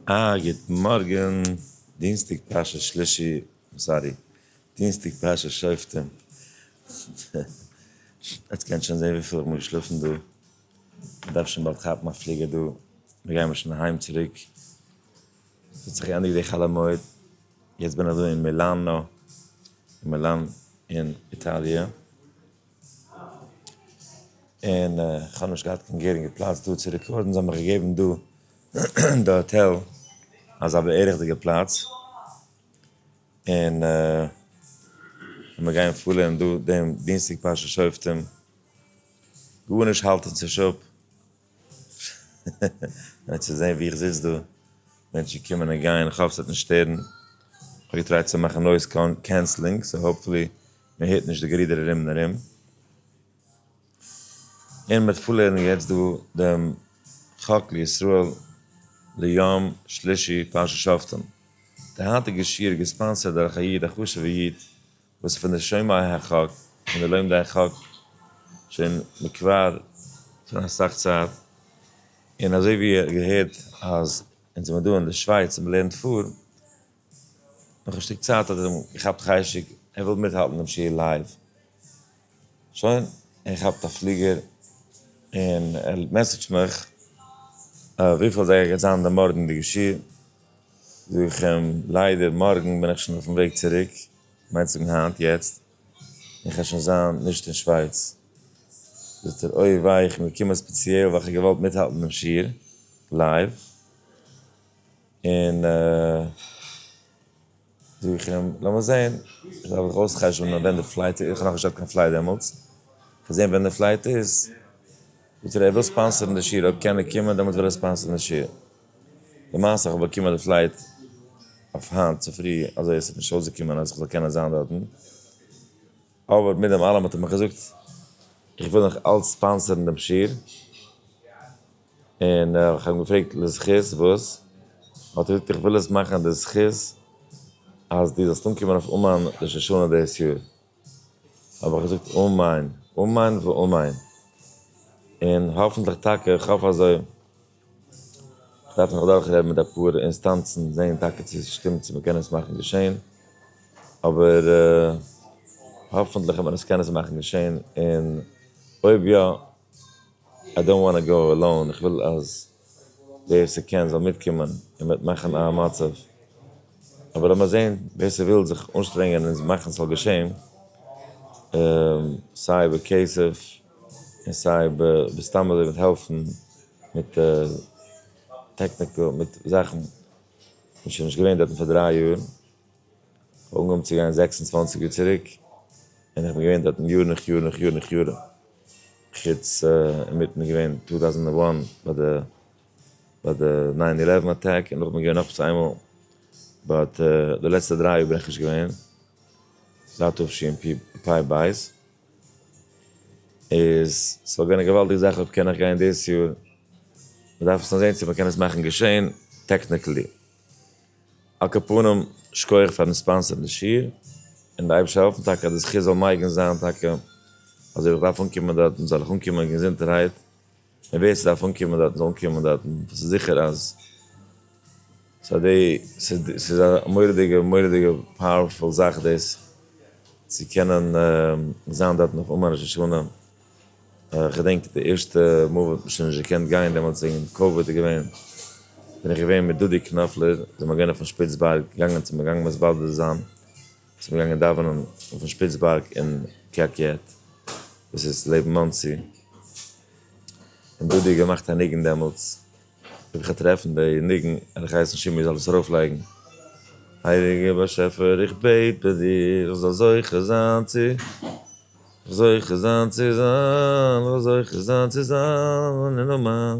א גוט מארגען, דינסטאג פרשת שלישי, סארי דינסטאג פרשת שופטים, עטס קענטס שוין זעהן וויפיל איך מוז שלאפן דא, איך דארף שוין באלד כאפן א פליגער דא, מיר גיימער שוין אהיים צוריק, עס האט זיך געענדיגט די חול המועד, יעצט בין איך דא אין מילאנא, אין מילאן אין איטאליע. און כ'האב נישט געהאט קיין גערינגע פלאץ דא צו רעקארדן, זיי האבן מיך געגעבן דא די האטעל אלס א בערך'דיגע פלאץ, און מיר גייען פארלערנען דא דעם דינסטאג פרשת שופטים, גארנישט האלט אונז נישט אפ, נאר צו זען ווי איך זיץ דא, מענטשן קומען און גייען, איך האף ס'וועט נישט שטערן, איך האב געטרייט צו מאכן נויז קענסלינג, סאו האופפולי מען הערט נישט די גערודער ארום און ארום, און מ'וועט פארלערנען יעצט דא דעם חק לישראל ליום שלישי פרשת שופטים, די היינטיגע שיעור איז געספאנסערד דורך א איד, א חשוב'ע איד, וואס פון די שומעי החוק און די לומדי החוק שוין מכבר פון אסאך צייט, און אזוי ווי איר האט געהערט אז אונז זעמיר דא אין די שווייץ און מ'לערנט פאר, נאך א שטיק צייט האט ער אים געכאפט חשק ער וויל מיטהאלטן דעם שיעור לייוו, שוין ער כאפט א פליגער און ער מעסעדזשט מיך וויפיל אזייגער גייט זיין די מארגנדיגע שיעור, זאג איך אים ליידער מארגן בין איך שוין אויפן וועג צוריק, מיינסט זאגן היינט יעצט און כ'וועל שוין זיין נישט אין שווייץ? זאגט ער אוי וויי איך בין געקומען ספעציעל ווייל כ'האב געוואלט מיטהאלטן דעם שיעור לייוו און זאג איך אים לאמיר זעהן דארף איך אויס'חשבונ'ען ווען די פלייט איז, כ'האב נאך נישט געהאט קיין פלייט דעמאלטס, כ'וועל זעהן ווען די פלייט איז, זאגט ער ער וויל ספאנסערן די שיעור אויב קען ער קומען דעמאלטס וויל ער ספאנסערן די שיעור. למעשה איך האב באקומען די פלייט אויף היינט צופרי אזוי עס האט נישט אויסגעקומען אז איך זאל קענען זיין דארטן, אבער מיט דעם אלעם האט ער מיך געזאגט איך וויל נאך אלץ ספאנסערן דעם שיעור, און איך האב אים געפרעגט לזכות וואס? האט ער געזאגט איך וויל עס מאכן די זכות אז דו זאלסט אנקומען אויף אומאן ראש השנה דאס יאר, האב איך געזאגט אמן אמן ואמן, און האפענטליך טאקע, איך האף אזוי. דארף מען זיך אדורך רעדן מיט אפאר אינסטאנצן זעהן טאקע צו עס שטימט צו מען קען עס מאכן געשעהן, אבער האפענטליך וועט מען עס קענען מאכן געשעהן, און אויב יא, איי דאנט וואנט טו גאו עלאון, איך וויל אז ווער עס קען זאל מיטקומען און מען וועט מאכן א מצב, אבער לאמיר זעהן ווער עס וויל זיך אנשטרענגען און מאכן ס'זאל געשעהן, סיי בכסף. און סיי ב ב סתם אזוי מיט העלפן מיט טעקניקל מיט זאכן איז שוין נישט געווען דארטן פאר דריי יאר, כ'האב אנגעהויבן צו גיין זעקס און צוואנציג יאר צוריק, און איך בין געווען דארטן יאר נאך יאר נאך יאר נאך יאר, חוץ אינמיטן געווען טו טאוזענט ענד וואן ביי די ביי די ניין אילעווען אטאק, און נאכדעם געווען נאך עפעס איינמאל, באט די לעצטע דריי יאר בין איך נישט געווען, זייט תשפ ב. איז ס'וואלט געווען א געוואלדיגע זאך אויב קען איך גיין דאס יאר, מ'דארף עס נאר זעהן צו מ'קען עס מאכן געשעהן טעקניקלי. על כל פנים, שקויעך פארן ספאנסערן די שיעור, און די אייבישטער העלפן טאקע אז די זכות זאל מייגן זיין טאקע, אז אויב איך דארף אנקומען דארטן זאל איך אנקומען געזונטערהייט. און ווער ס'דארף אנקומען דארטן זאל אנקומען דארטן, ס'איז זיכער אז ס'איז א מורא'דיגע מורא'דיגע פאוערפול זאך דאס צו קענען זיין דארטן אויף אומאן ראש השנה, כ'געדענק די ערשטע מאל וואס מ'האט שוין נישט געקענט גיין דעמאלטס וועגן קאוויד איז געווען, בין איך געווען מיט דודי קנאפלער דער מגונה פון שפיצבערג, געגאנגען צום מגנב'ס באלד זיין. זענען געגאנגען דאווענען אויפן שפיץ בארג אין קה ק וואס איז לעבן מאנסי, און דודי האט געמאכט א ניגון דעמאלטס, האב איך געטרעפן די ניגון און האב געהייסן שמעון זאל עס ארויפלייגן, הייליגער באשעפער איך בעט ביי דיר איך זאל זוכה זיין צו זוכה זיין צו זיין איך זאל זוכה זיין צו זיין אין נאמען.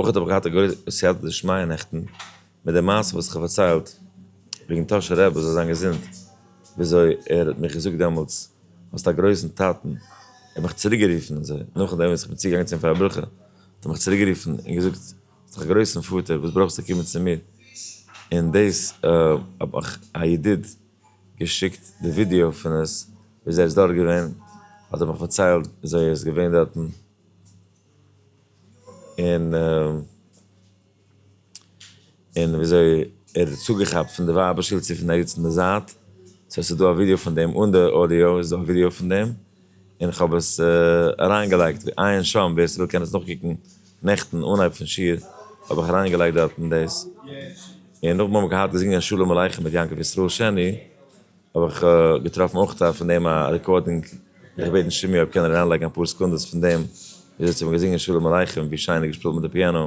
אויך האב איך געהאט א גרויסע סייעתא דשמיא נעכטן, מיט די מעשה וואס איך האב פארציילט, וועגן טאהשער רבי זאל זיין געזונט, וויאזוי ער האט מיך געזאגט דעמאלטס, האסט א גרויסן טאטן, ער האט מיך צוריק גערופן אזוי, נאכדעם וואס איך בין צוגעגאנגען צו אים פאר א ברכה, האט ער מיך צוריק גערופן און געזאגט, זיך גרויסן פאטער וואס ברויכסטו קומען צו מיר און דאס האב איך א ידיד געשיקט די ווידיאו פון עס ווי אזוי ער איז דארט געווען האט ער מיך פארציילט ווי אזוי ער איז געווען דארטן און און ווי אזוי ער האט צוגעכאפט פון די ווייבער שול צו פון די עדות אין די זייט סאו עס איז דא א ווידיאו פון דעם אן די אודיאו איז דא א ווידיאו פון דעם. און איך האב עס אריינגעלייגט ווי עיין שם, ווער ס'וויל קען עס נאכקוקן, נעכטן אנהייב פון שיעור האב איך אריינגעלייגט דארטן דאס, און נאכדעם האבן מיר געהאט געזינגען שלום עליכם מיט יעקב ישראל שני, האב איך געטראפן אויך א פון דעם א רעקארדינג, וועל איך בעטן שימי אויב קען ער אריינלייגן אפאר סעקונדעס פון דעם, וויאזוי צו האבן געזינגען שלום עליכם, ווי שיין ער האט געשפילט מיט די פיאנא.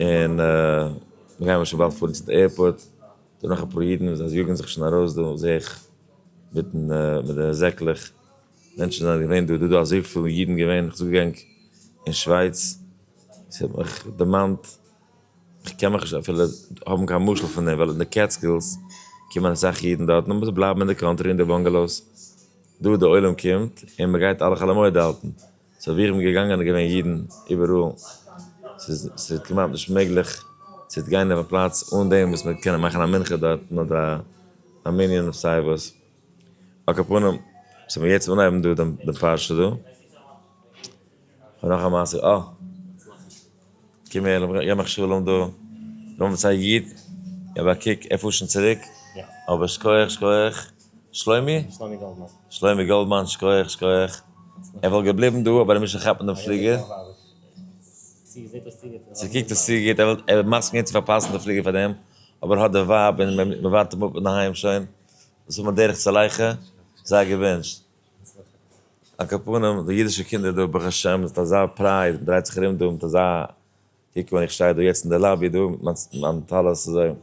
און מיר גייען שוין באלד פארן צו די עירפארט, דא נאך אפאר אידן, זיי יאגן זיך שוין ארויס דא זע איך, מיטן מיט די זעקלעך, מענטשן זענען געווען דא, דא דא אזויפיל אידן געווען, איך זאג ענק אין שווייץ, עס האט מיך דערמאנט, איך קען מיך נישט אפילו האבן קיין משל פון דעם, ווייל אין די קעטסקילס קומען אסאך אידן דארטן אבער זיי בלייבן אין די קאנטרי אין די באנגעלאוס, דא די עולם קומט און מען גייט אלע חאלעמויד האלטן, סערווירן געגאנגען איז געווען אידן איבעראל, ס'איז כמעט נישט מעגליך צו גיין אויף א פלאץ אן דעם וואס מ'וועט קענען מאכן א מנחה דארטן אדער א מנין אויף סיי וואס, על כל פנים ס'וועט מיר יעצט אנהייבן דא דעם פרשה דא, כ'האב נאך א מעשה, אה. קום הער, לאמיר גיין מחשבה לאמיר דא נעמען צו א איד, געב א קוק ער פארט שוין צוריק, אבער שכוח שכוח, שלומי? שלומי גאלדמאן, שכוח שכוח, ער וואלט געבליבן דא אבער ער מוז שוין כאפן דעם פליגער, צו קוקט עס צו גוט, ער איז מסכים געווען צו פארפאסן די פליגער פאר דעם, אבער ער האט די ווייב און מען ווארט אים אפ אינדערהיים שוין, וואס האט מען דרך צו לייכע, זיי געוואונטשט. על כל פנים, די אידישע קינדער דא, ברוך השם, זענט אזא פרייד, מען דרייט זיך ארום דא מיט אזא, קוק ווען איך שטיי דא יעצט אין די לאבי דא, מיט מיין טלית אזוי, און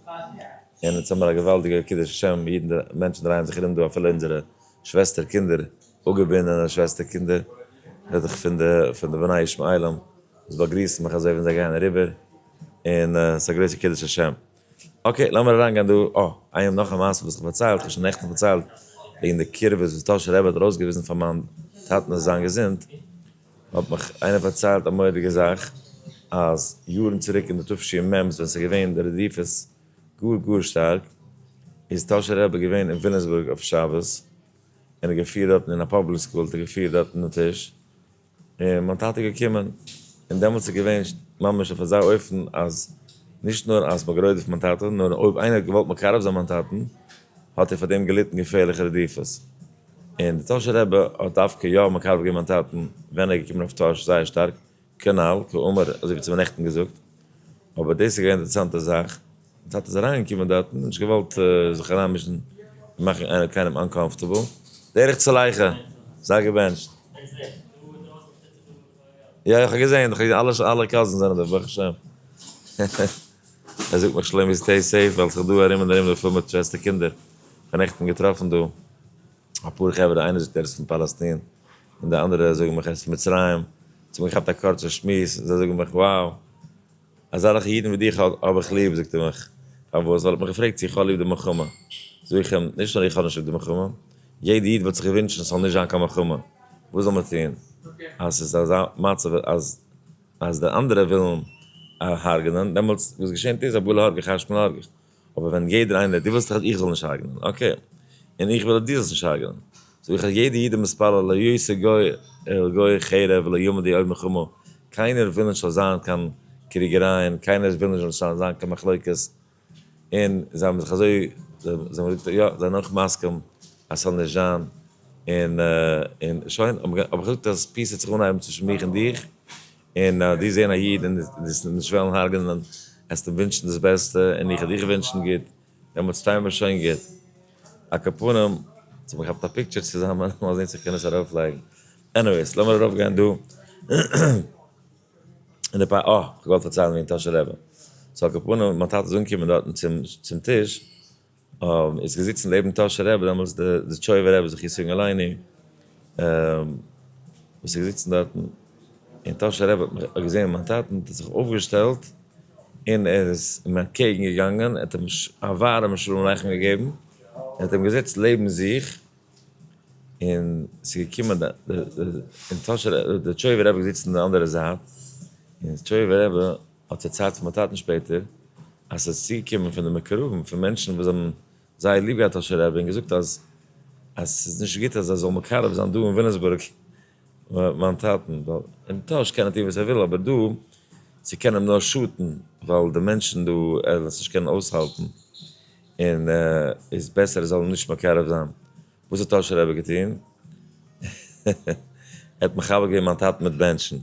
אונז האמיר א געוואלדיגע קידוש השם, אידן, מענטשן דרייען זיך ארום דא, אפילו אונזערע שוועסטער קינדער, אפגעבינדענע שוועסטער קינדער, רעד איך פון די, פון די בני ישמעאלים, וואס באגריסן מיך אזוי ווען זיי גייען אריבער, און ס'איז א גרויסע קידוש השם. אקעי לאמיר אריינגיין דא, אה, איין נאך א מעשה וואס איך פארציילט, איך האב שוין נעכטן פארציילט וועגן די קירבות וואס טאהשער רבי האט ארויסגעוויזן פאר מיין טאטן אויף זיין געזונט, האט מיך איינער פארציילט א מורא'דיגע זאך, אז יארן צוריק אין די תשי מ ווען ס'איז געווען די רדיפות גאר גאר שטארק, איז טאהשער רבי געווען אין וויליאמסבורג אויף שבת, און ער האט געפירט דארטן אין א פאבליק סקול האט ער געפירט דארטן די טיש, און מיין טאטע איז געקומען, און דעמאלטס איז געווען ממש אויף אזא אופן אז נישט נאר אז מען האט גערוידעפט מיין טאטע, נאר אויב איינער האט געוואלט מקרב זיין מיין טאטן, האט ער פאר דעם געליטן געפערליכע רדיפות. און דער טאהשער רבי האט דווקא יא מקרב געווען מיין טאטן ווען ער איז געקומען אויף טאהש זייער שטארק, כנל, כאמור, אזוי ווי צו מען נעכטן געזאגט. אבער דאס איז געווען די אינטערעסאנטע זאך, די טאטע איז אריינגעקומען דארטן, נישט געוואלט זיך אריינמישן און מאכן איינער קיינעם אנקאמפארטעבל, דער איך צולייכע, זיי געבענטשט. יא, איך האב געזען, איך האב געזען אלע אלע קאזינס זענען דא, ברוך השם. ער זאגט מיך שלומי סטעי סעיף, ווייל ס'איז דא ארום און ארום דא פול מיט שוועסטער קינדער. כ'האב נעכטן געטראפן דא אפאר חברה, איינער זאגט ער איז פון פאלעסטין, און די אנדערע זאגן מיך ער איז פון מצרים, זיי האבן געכאפט א קורצע שמועס, זיי זאגן מיך, wow. אַזעלכע ייִדן װי דיך האָב איך ליב, זאָגט ער מיך. פֿאַר װאָס? װײַל ער האָט מיך געפֿרעגט, צי איך האָב ליב די מלחמה. זאָג איך אים, נישט נאָר איך האָב נישט ליב די מלחמה. יעדער ייִד װאָלט זיך געװוּנטשן, ס'זאָל נישט זײַן קײן מלחמה. װאָס זאָל מען טאָן, אַז ס'איז אַזאַ מצבֿ, אַז, אַז די אַנדערע װילן הרגענען? דעמאָלט, װאָס געשענט איז, אַ בולע האָרגעך, אַ חשמל האָרגעך. אבער ווען יעדער איינער, דו ווילסט דאך אז איך זאל נישט הרג'נען, אקעי, און איך וויל אז דו זאלסט נישט הרג'נען, זאג איך אז יעדער איד איז מתפלל לא יעשה גוי אל גוי חרב ולא יעמוד איוב מחומו, קיינער וויל נישט ס'זאל זיין קיין קריגערייען, קיינער וויל נישט ס'זאל זיין קיין מחלוקת, און זיי האבן זיך אזוי, זיי האבן געזאגט יא, זיי זענען אויך מסכים אז ס'זאל נישט זיין, און שוין, האב איך געזאגט אז פיס וועט זיך אנהייבן צווישן מיך און דיך, און אז דו זען א איד און דאס נישט וועלן הרג'נען, עסטו אים ווינטשן דאס בעסטע, און איך וועל דיך ווינטשן גוט, דעמאלטס שטייען מיר שוין גוט. א קאפנים, האט מען געכאפט א פיקטשער צוזאמען, מאל זען צו איך קען עס ארויף לייגן. עניוועיס, לאמיר ארויף גיין דא אין די פאר, אה, כ'האב געוואלט פארציילן וועגן טאשע רעבע. סאו א קאפנים, מיין טאטע איז אנגעקומען דארטן צום טיש, איז געזיצן לעבן טאהשער רבי דעמאלטס די זיטשויעווער רבי זכי' סינגאלייני וואס איז געזיצן דארטן און טאהשער רבי האט מיך געזעהן מיין טאטן האט ער זיך אויפגעשטעלט און ער איז אים אנטקעגן געגאנגען ער האט אים א ווארעמע שלום עליכם געגעבן ער האט אים געזעצט לעבן זיך און ס'איז געקומען די און טאהשער רבי די זיטשויעווער רבי איז געזיצן אין די אנדערע זייט און זיטשויעווער רבי האט זיי צייט צו באטייטן שפעטער אז ס'איז צוגעקומען פון די מקורבים פון מענטשן וואס האבן זייער ליב געהאט אשר רעבי און געזאגט אז אז ס'איז נישט גוט אז ער זאל מקרב זיין דא אין וויליאמסבורג מיין טאטן ווייל אין טאהש קען ער טון וואס ער וויל אבער דא ס'קען אים נאר שאטן ווייל די מענטשן דא ער וועט עס נישט קענען אויסהאלטן און איז בעסער ער זאל אים נישט מקרב זיין. וואס האט אשר רעבי געטון? ער האט מחבר געווען מיין טאטן מיט בענטשן.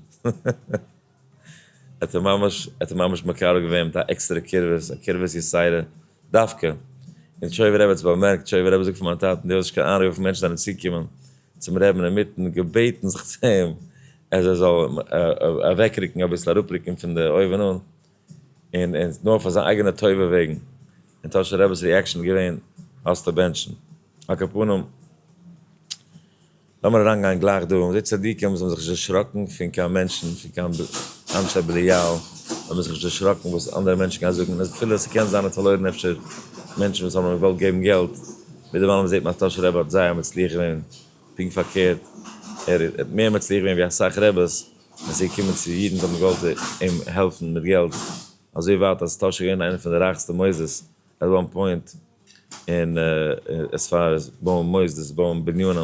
האט ער ממש האט ער ממש מקרב געווען מיט א עקסטערע קרבת, א קרבת יסיירא דווקא, און טשויווער רבי האט עס באמערקט, טשויווער רבי זאגט פאר מיין טאטן דו האסט נישט קיין איינרוף וויפיל מענטשן זענען צוגעקומען צום רעבין אינמיטן געבעטן זיך צו אים אז ער זאל אוועקרוקן אביסל אראפרוקן פון די אויבן אן און און נאר פאר זיין אייגענע טובה וועגן, און טאהשער רבי'ס ריעקשאן איז געווען האסטו בענטשן, הקפנים לאמיר אריינגיין גלייך דא, און די צדיקים זאלן זיך נישט דערשראקן פון קיין מענטשן, פון קיין אנשי בליעל, זאל מען זיך נישט דערשראקן וואס אנדערע מענטשן גייען זאגן, און אפילו עס קען זיין ער האט פארלוירן אפשר מענטשן וואס האבן אים געוואלט געבן געלט, ווידעראום זעט מען אז טאהשער רבי האט זייער מצליח געווען, פונקט פארקערט, ער האט מער מצליח געווען ווי אסאך רביס, ווען ס'איז געקומען צו אידן וואס האבן געוואלט אים העלפן מיט געלט, אזוי ווייט אז טאהשער איז געווען איינער פון די רייכסטע מוסדות עט וואן פוינט און עס פאר עס בויען מוסדות בויען בנינים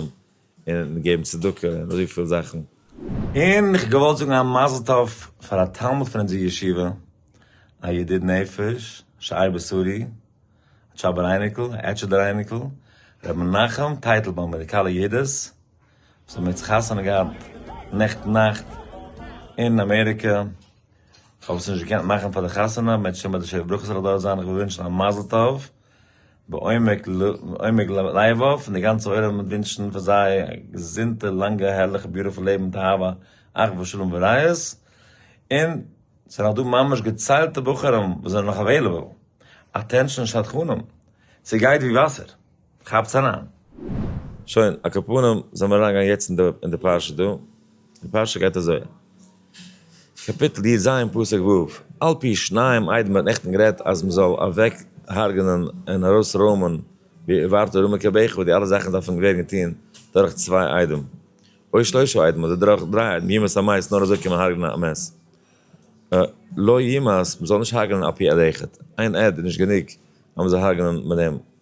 און געבן צדקה און אזויפיל זאכן. און איך געוואלט זאגן א מזל טוב פאר א תלמיד פון אונזער ישיבה א ידיד נפש שער בשרי א טשאבער אייניקל א עטשעדער אייניקל ר' מנחם טייטלבוים א ראדיקאלע ידות. זיי האבן יעצט חתונה געהאט נעכטן נאכט אין אמעריקע, כ'האב עס נישט געקענט מאכן פאר די חתונה, מ'עט שוין ביי די שבע ברכות זאל איך דארט זיין, איך וויל ווינטשן א מזל טוב בעומק לבה פון די גאנצע עולם מיט ווינטשן פאר זיי א געזונטע לאנגע הערליכע ביוטיפול לעבן מיט אהבה אחווה שלום ורעות, און ס'איז נאך דא ממש געציילטע בחורים וואס זענען נאך עוועילעבל, אטענשאן שדכנים, ס'גייט ווי וואסער. כאפטס אריין. שוין, א קאפנים זאל מען אריינגיין יעצט אין די פרשה דא, די פרשה גייט אזוי, קאפיטל י ז פסוק ו', על פי שניים עדים האט נעכטן גערעדט אז מען זאל אוועק הרג'נען און ארויס רוימען די ווארט ארום מקרבך וואס די אלע זאכן דארפן ווערן געטון דורך צוויי עדים אוי שלושה עדים אדער דורך דריי עדים ימות המית נאר אזוי קען מען הרג'נען א מת לא ימות מען זאל נישט הרג'נען על פי עד אחד איין עד איז נישט גענוג אז מען זאל הרג'נען מיט דעם.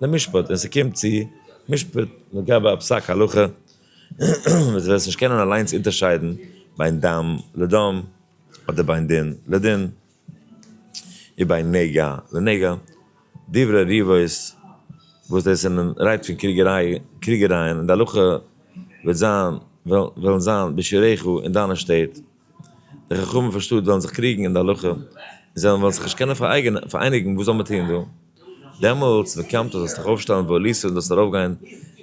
למשפט ווען ס'קומט צו משפט לגבי א פסק הלכה וואס דו וועסט נישט קענען אליינס אונטערשיידן בין דם לדם אדער בין דין לדין און בין נגע לנגע דברי ריבות וואס דאס איז מען רייד פון קריגעריי קריגערייען און די הלכה וועט זיין וועלן זיין בשיריך אין דיינע שטעט. די חכמים פון שטאט וועלן זיך קריגן אין די הלכה, און זיי וועלן זיך נישט קענען פאראייניגן וואס זאל מען טון דא? דעמאלטס וקמת זאלסט דיך אויפשטעלן ועלית און זאלסט ארויפגיין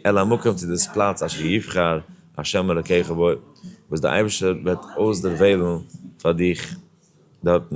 אל המקום צו דאס פלאץ אשר יבחר ה' אלקיך בו, וואס דער אייבערשטער וועט אויסדערוועלן פאר דיך דארטן.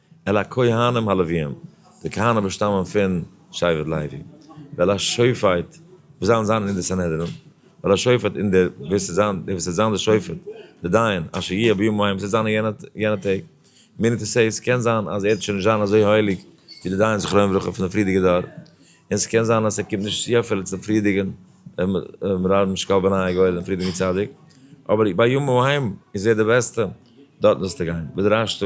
אל הכהנים הלוויים, די כהנים וואס שטאמען פון שבט לוי, ואל השופט וואס זיין זיין אין די סנהדרין, ואל השופט און דער וואס וועט זיין דער וואס וועט זיין דער שופט, דער דיין, אשר יהיה בימים ההם וואס וועט זיין אין יענע יענע טעג, מיני טו סעי, ס'קען זיין אז ער וועט שוין נישט זיין אזוי הייליג ווי די דיין זכרונו לברכה פון די פריערדיגע דור, און ס'קען זיין אז ער קומט נישט צו אפילו צום פריערדיגן רב משקל בני הגואל און פריערדיגן צדיק, אבער בימים ההם איז ער די בעסטע דארטן זאלסטו גיין, ודרשת.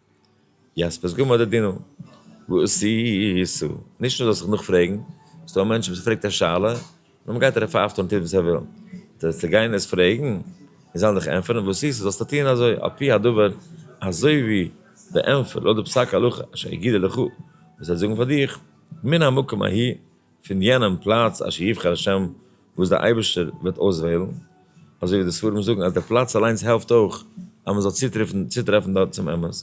יענס פסגו מדה דינא, וואס איז? נישט נאר זאלסטו זיך נאכפרעגן, ס'איז דא א מענטש וואס פרעגט א שאלה, און מען גייט ער פייפט און טוט וואס ער וויל, אנטשטאט צו גיין עס פרעגן און זיי זאלן דיך ענטפערן וואס איז, זאלסטו טון אזוי על פי הדבר, אזוי ווי די ענטפער לויט די פסק הלכה אשר יגידו לך, וואס זיי זאגן פאר דיך, מן המקום ההיא. פון יענעם פלאץ אשר יבחר השם וואס דער אייבערשטער וועט אויסוועלן, אזוי ווי די ספרים זאגן אז דער פלאץ אליינס העלפט אויך אז מען זאל צוטרעפן דארט צום אמת,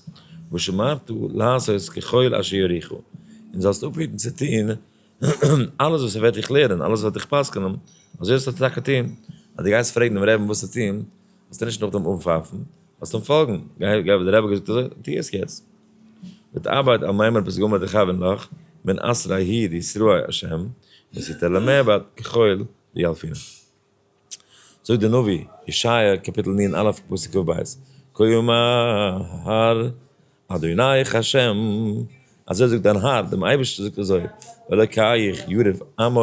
ושמרת לעשות ככל אשר יוריך, און זאלסט אפהיטן צו טון אלעס וואס ער וועט דיך לערנען, אלעס וואס ער וועט דיך פסק'נען, אזוי זאלסטו טאקע טון, אז דו גייסט פרעגן דעם רעבען וואס צו טון, זאלסטו נישט נאכדעם אנפייפן, זאלסט אים פאלגן, גיי ווי דער רבי האט געזאגט אזוי, טו עס יעצט. מיט ארבייט על מימר פסגה מיט די חבר נח מן אסרי הי ד ישרא' השם יסיתר למעבד כחול ויאלפינא. זאגט דער נביא ישעיה קאפיטל נ א פסוק ק ב כה יאמר אדוניך השם אזוי זאגט דיין האר דעם אייבערשטער זאגט אזוי אלוקיך יריב עמי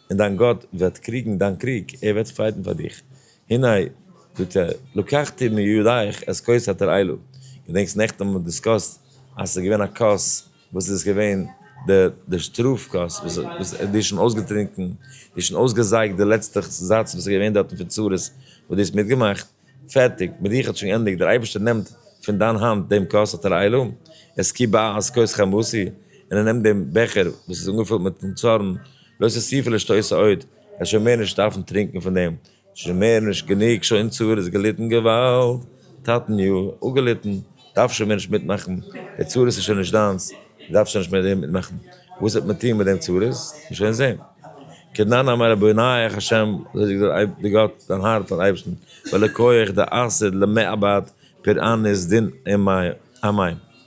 און דיין גאט וועט קריגן דיין קריג ער וועט פייטן פאר דיך הנה, זאגט ער, לקחתי מידיך את כוס התר עילו, געדענקסט נעכטן האבן מיר דיסקאסט אז ס'איז געווען א כוס וואס איז געווען די די שטראף כוס וואס וואס די האסט שוין אויסגעטרינקן, די האסט שוין אויסגעזייגט די לעצטע זאץ וואס איז געווען דארטן פון צרות וואס די האסט מיטגעמאכט, פערטיג, מיט דיך האט שוין געענדיגט, דער אייבערשטער נעמט פון דיין האנט דעם כוס התר עילו, את כי באה את כוס חמתי, און ער נעמט דעם בעכער וואס איז אנגעפולט מיטן צארן, לא תוסיפי לשתותה עוד, ער שוין מער נישט דארפן טרינקן פון דעם, שוין מער נישט גענוג שוין צרות געליטן געוואלד טאטן יא אפגעליטן, דארף שוין מער נישט מיטמאכן, די צרות איז שוין נישט דיינס, דו דארפסט שוין נישט מער דעם מיטמאכן, וואס וועט מען טון מיט דעם צרות, וועט מען שוין זען. כדנן אמר רבי ינאי איך ה' אזוי זאגט דער אייב דער גאט דיין האר פארן אייבערשטן ולקח דער אסד למעבד פרען איז דין אין מים.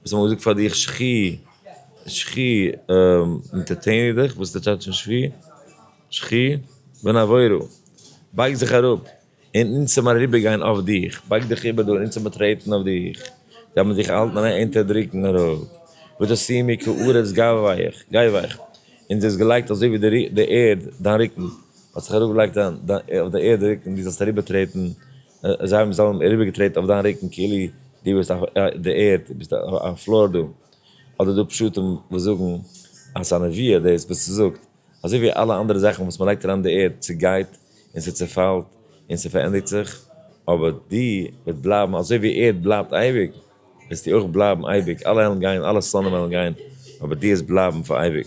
וואס האט מען געזאגט פאר דיך שכי שכי אינטערטעיני דיך, וואס איז די טשאטש פון שבי שכי ונעבורו, בייג זיך אראפ און אונז האבן אריבערגיין אויף דיך, בייג דיך איבער דא און אונז האבן טרעטן אויף דיך, זיי האבן דיך געהאלטן אריין אונטערדרוקן אראפ, ותשימי כארץ גבהיך, גייוועך, אונז האסט געלייגט אזוי ווי די ערד דיין רוקן, האט זיך אראפגעלייגט אויף די ערד די רוקן דו זאלסט אריבערטרעטן און זיי האבן זיין אריבערגעטרעט אויף דיין רוקן כאילו דו ביסט אויף די ערד, דו ביסט א פלאר דא, אדער דא פשטים וואס זאגן אז ס'איז א נביאה דאס וואס ס'זאגט, אזוי ווי אלע אנדערע זאכן וואס מ'לייגט אריין אין די ערד צעגייט און ס'צעפאלט און ס'פארענדיגט זיך, אבער דו וועסט בלייבן אזוי ווי ערד בלייבט אייביג, וועסטו אויך בלייבן אייביג, אלע עלן גייען, אלע סלאנים עלן גייען, אבער דו וועסט בלייבן פאר אייביג.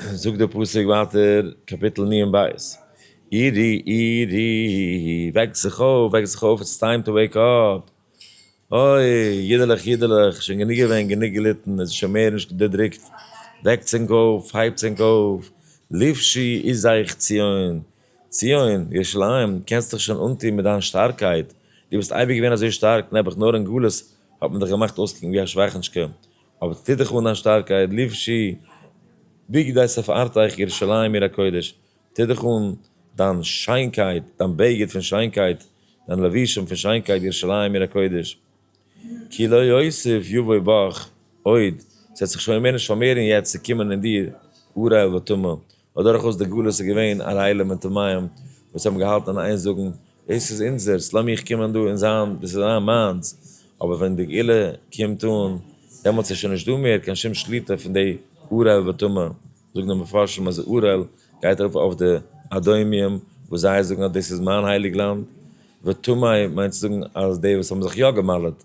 זאגט דער פסוק ווייטער, קאפיטל נ ע ב, אירי אירי וועק זיך אויף, וועק זיך אויף, איטס טיים טו וועיק אפ, אוי אידעלעך אידעלעך, שוין גענוג געווען, גענוג געליטן, עס איז שוין מער נישט דערדרוקט, וועקטס ענק אויף, הייבטס ענק אויף, לפשי איז אייך ציון, ציון, ירושלים, קענסט דיך שוין אנטון מיט דיין שטארקייט, דו ביסט אייביג געווען אזוי שטארק, נעבעך נאר אין גלות האט מען דיך געמאכט אויסקוקן ווי א שוואכענטשקע, אבער ס'טוט דיך אן א שטארקייט, לבשי בגדי שפארתיך ירושלים עיר הקודש, טוט דיך אן דיין שיינקייט, דיין בגד פון שיינקייט, דיין לבושים פון שיינקייט, ירושלים עיר הקודש, כי לא יוסיף יבוא בך עוד, ס'וועט זיך שוין מער נישט פארמערן יעצט צו קומען אין דיר אור רעל וטומאה, ווייל דורכאויס די גלות איז געווען א רעילה מיט טמאים וואס האבן געהאלטן און איין זאגן, דאס איז אונזערס, לאז מיך קומען דא און זיין, דאס איז זיין מיינס, אבער ווען די גאולה קומט אן, דעמאלטס איז שוין נישט דא מער קיין שום שליטה פון די ארעל וטמא, זאגן די מפרשים אז ארעל גייט ארויף אויף די אדומים וואס זיי זאגן אז דאס איז מיין הייליג לאנד, וטמאי מיינט צו זאגן אז די וואס האבן זיך יא געמל'עט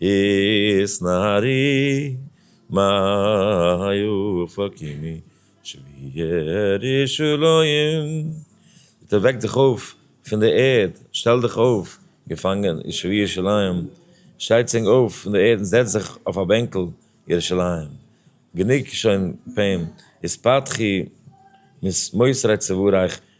איז נהרי מאי אופקימי שביער ישוריים, ביטע וועק דיך אויף פון די ערד, שטעל דיך אויף געפאנגען יושבי ירושלים, שטיי צונג אויף פון די ערד און זעץ זיך אויף א בענקל ירושלים, גענוג שוין פעם, איז פתחי ממוסרי צווארייך,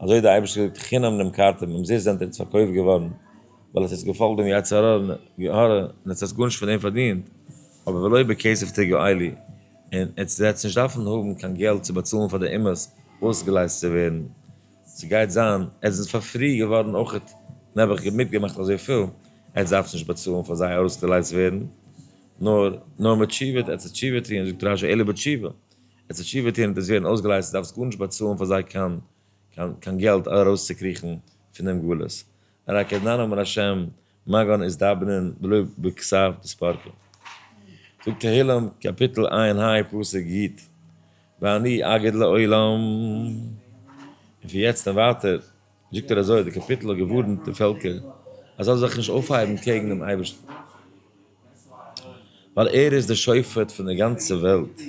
אזוי האט דער אייבערשטער געזאגט חינם נמכרתם, אומזיסט זענט איר איצט פארקויפט געווארן, ווייל האט איצט געפאלגט דעם יצר הרע, און איצט האט גארנישט פון דעם פארדינט, אבער ולא בכסף תגעו לי, און איצט וועטס נישט דארפן האבן קיין געלט צו באצאלן פאר די אומות אויסגעלייזט צו ווערן, ס'גייט זיין, עטס זענטס פאר פרי געווארן אויכעט, נעבעך מיטגעמאכט אזויפיל, עטס דארפטס נישט באצאלן פאר זייער אויסגעלייזט ווערן, נאר נאר מיט תשובה עטס עטס תשובה טוהן, זאגט רשי אלא בתשובה, עס וועט שיווער טון און עס ווערן אויסגעלייזט, דו דארפסט גארנישט באצאלן פאר זיי קיין קיין געלט ארויסצוקריכן פון דעם גלות. אריי קעדנאנא אומר השם, מה גאון איז דאבנען ולא בכסף דספרקין. זאג תהילים קאפיטל עיין היי פסוק יט, ואני אגיד לעולם, און פון יעצט און ווייטער, זאגט ער אזוי, די קאפיטל האט געווארנט די פעלקער אז זיי זאלן זיך נישט אויפהייבן קעגן דעם אייבערשטן, ווייל ער איז דער שופט פון דער גאנצער וועלט,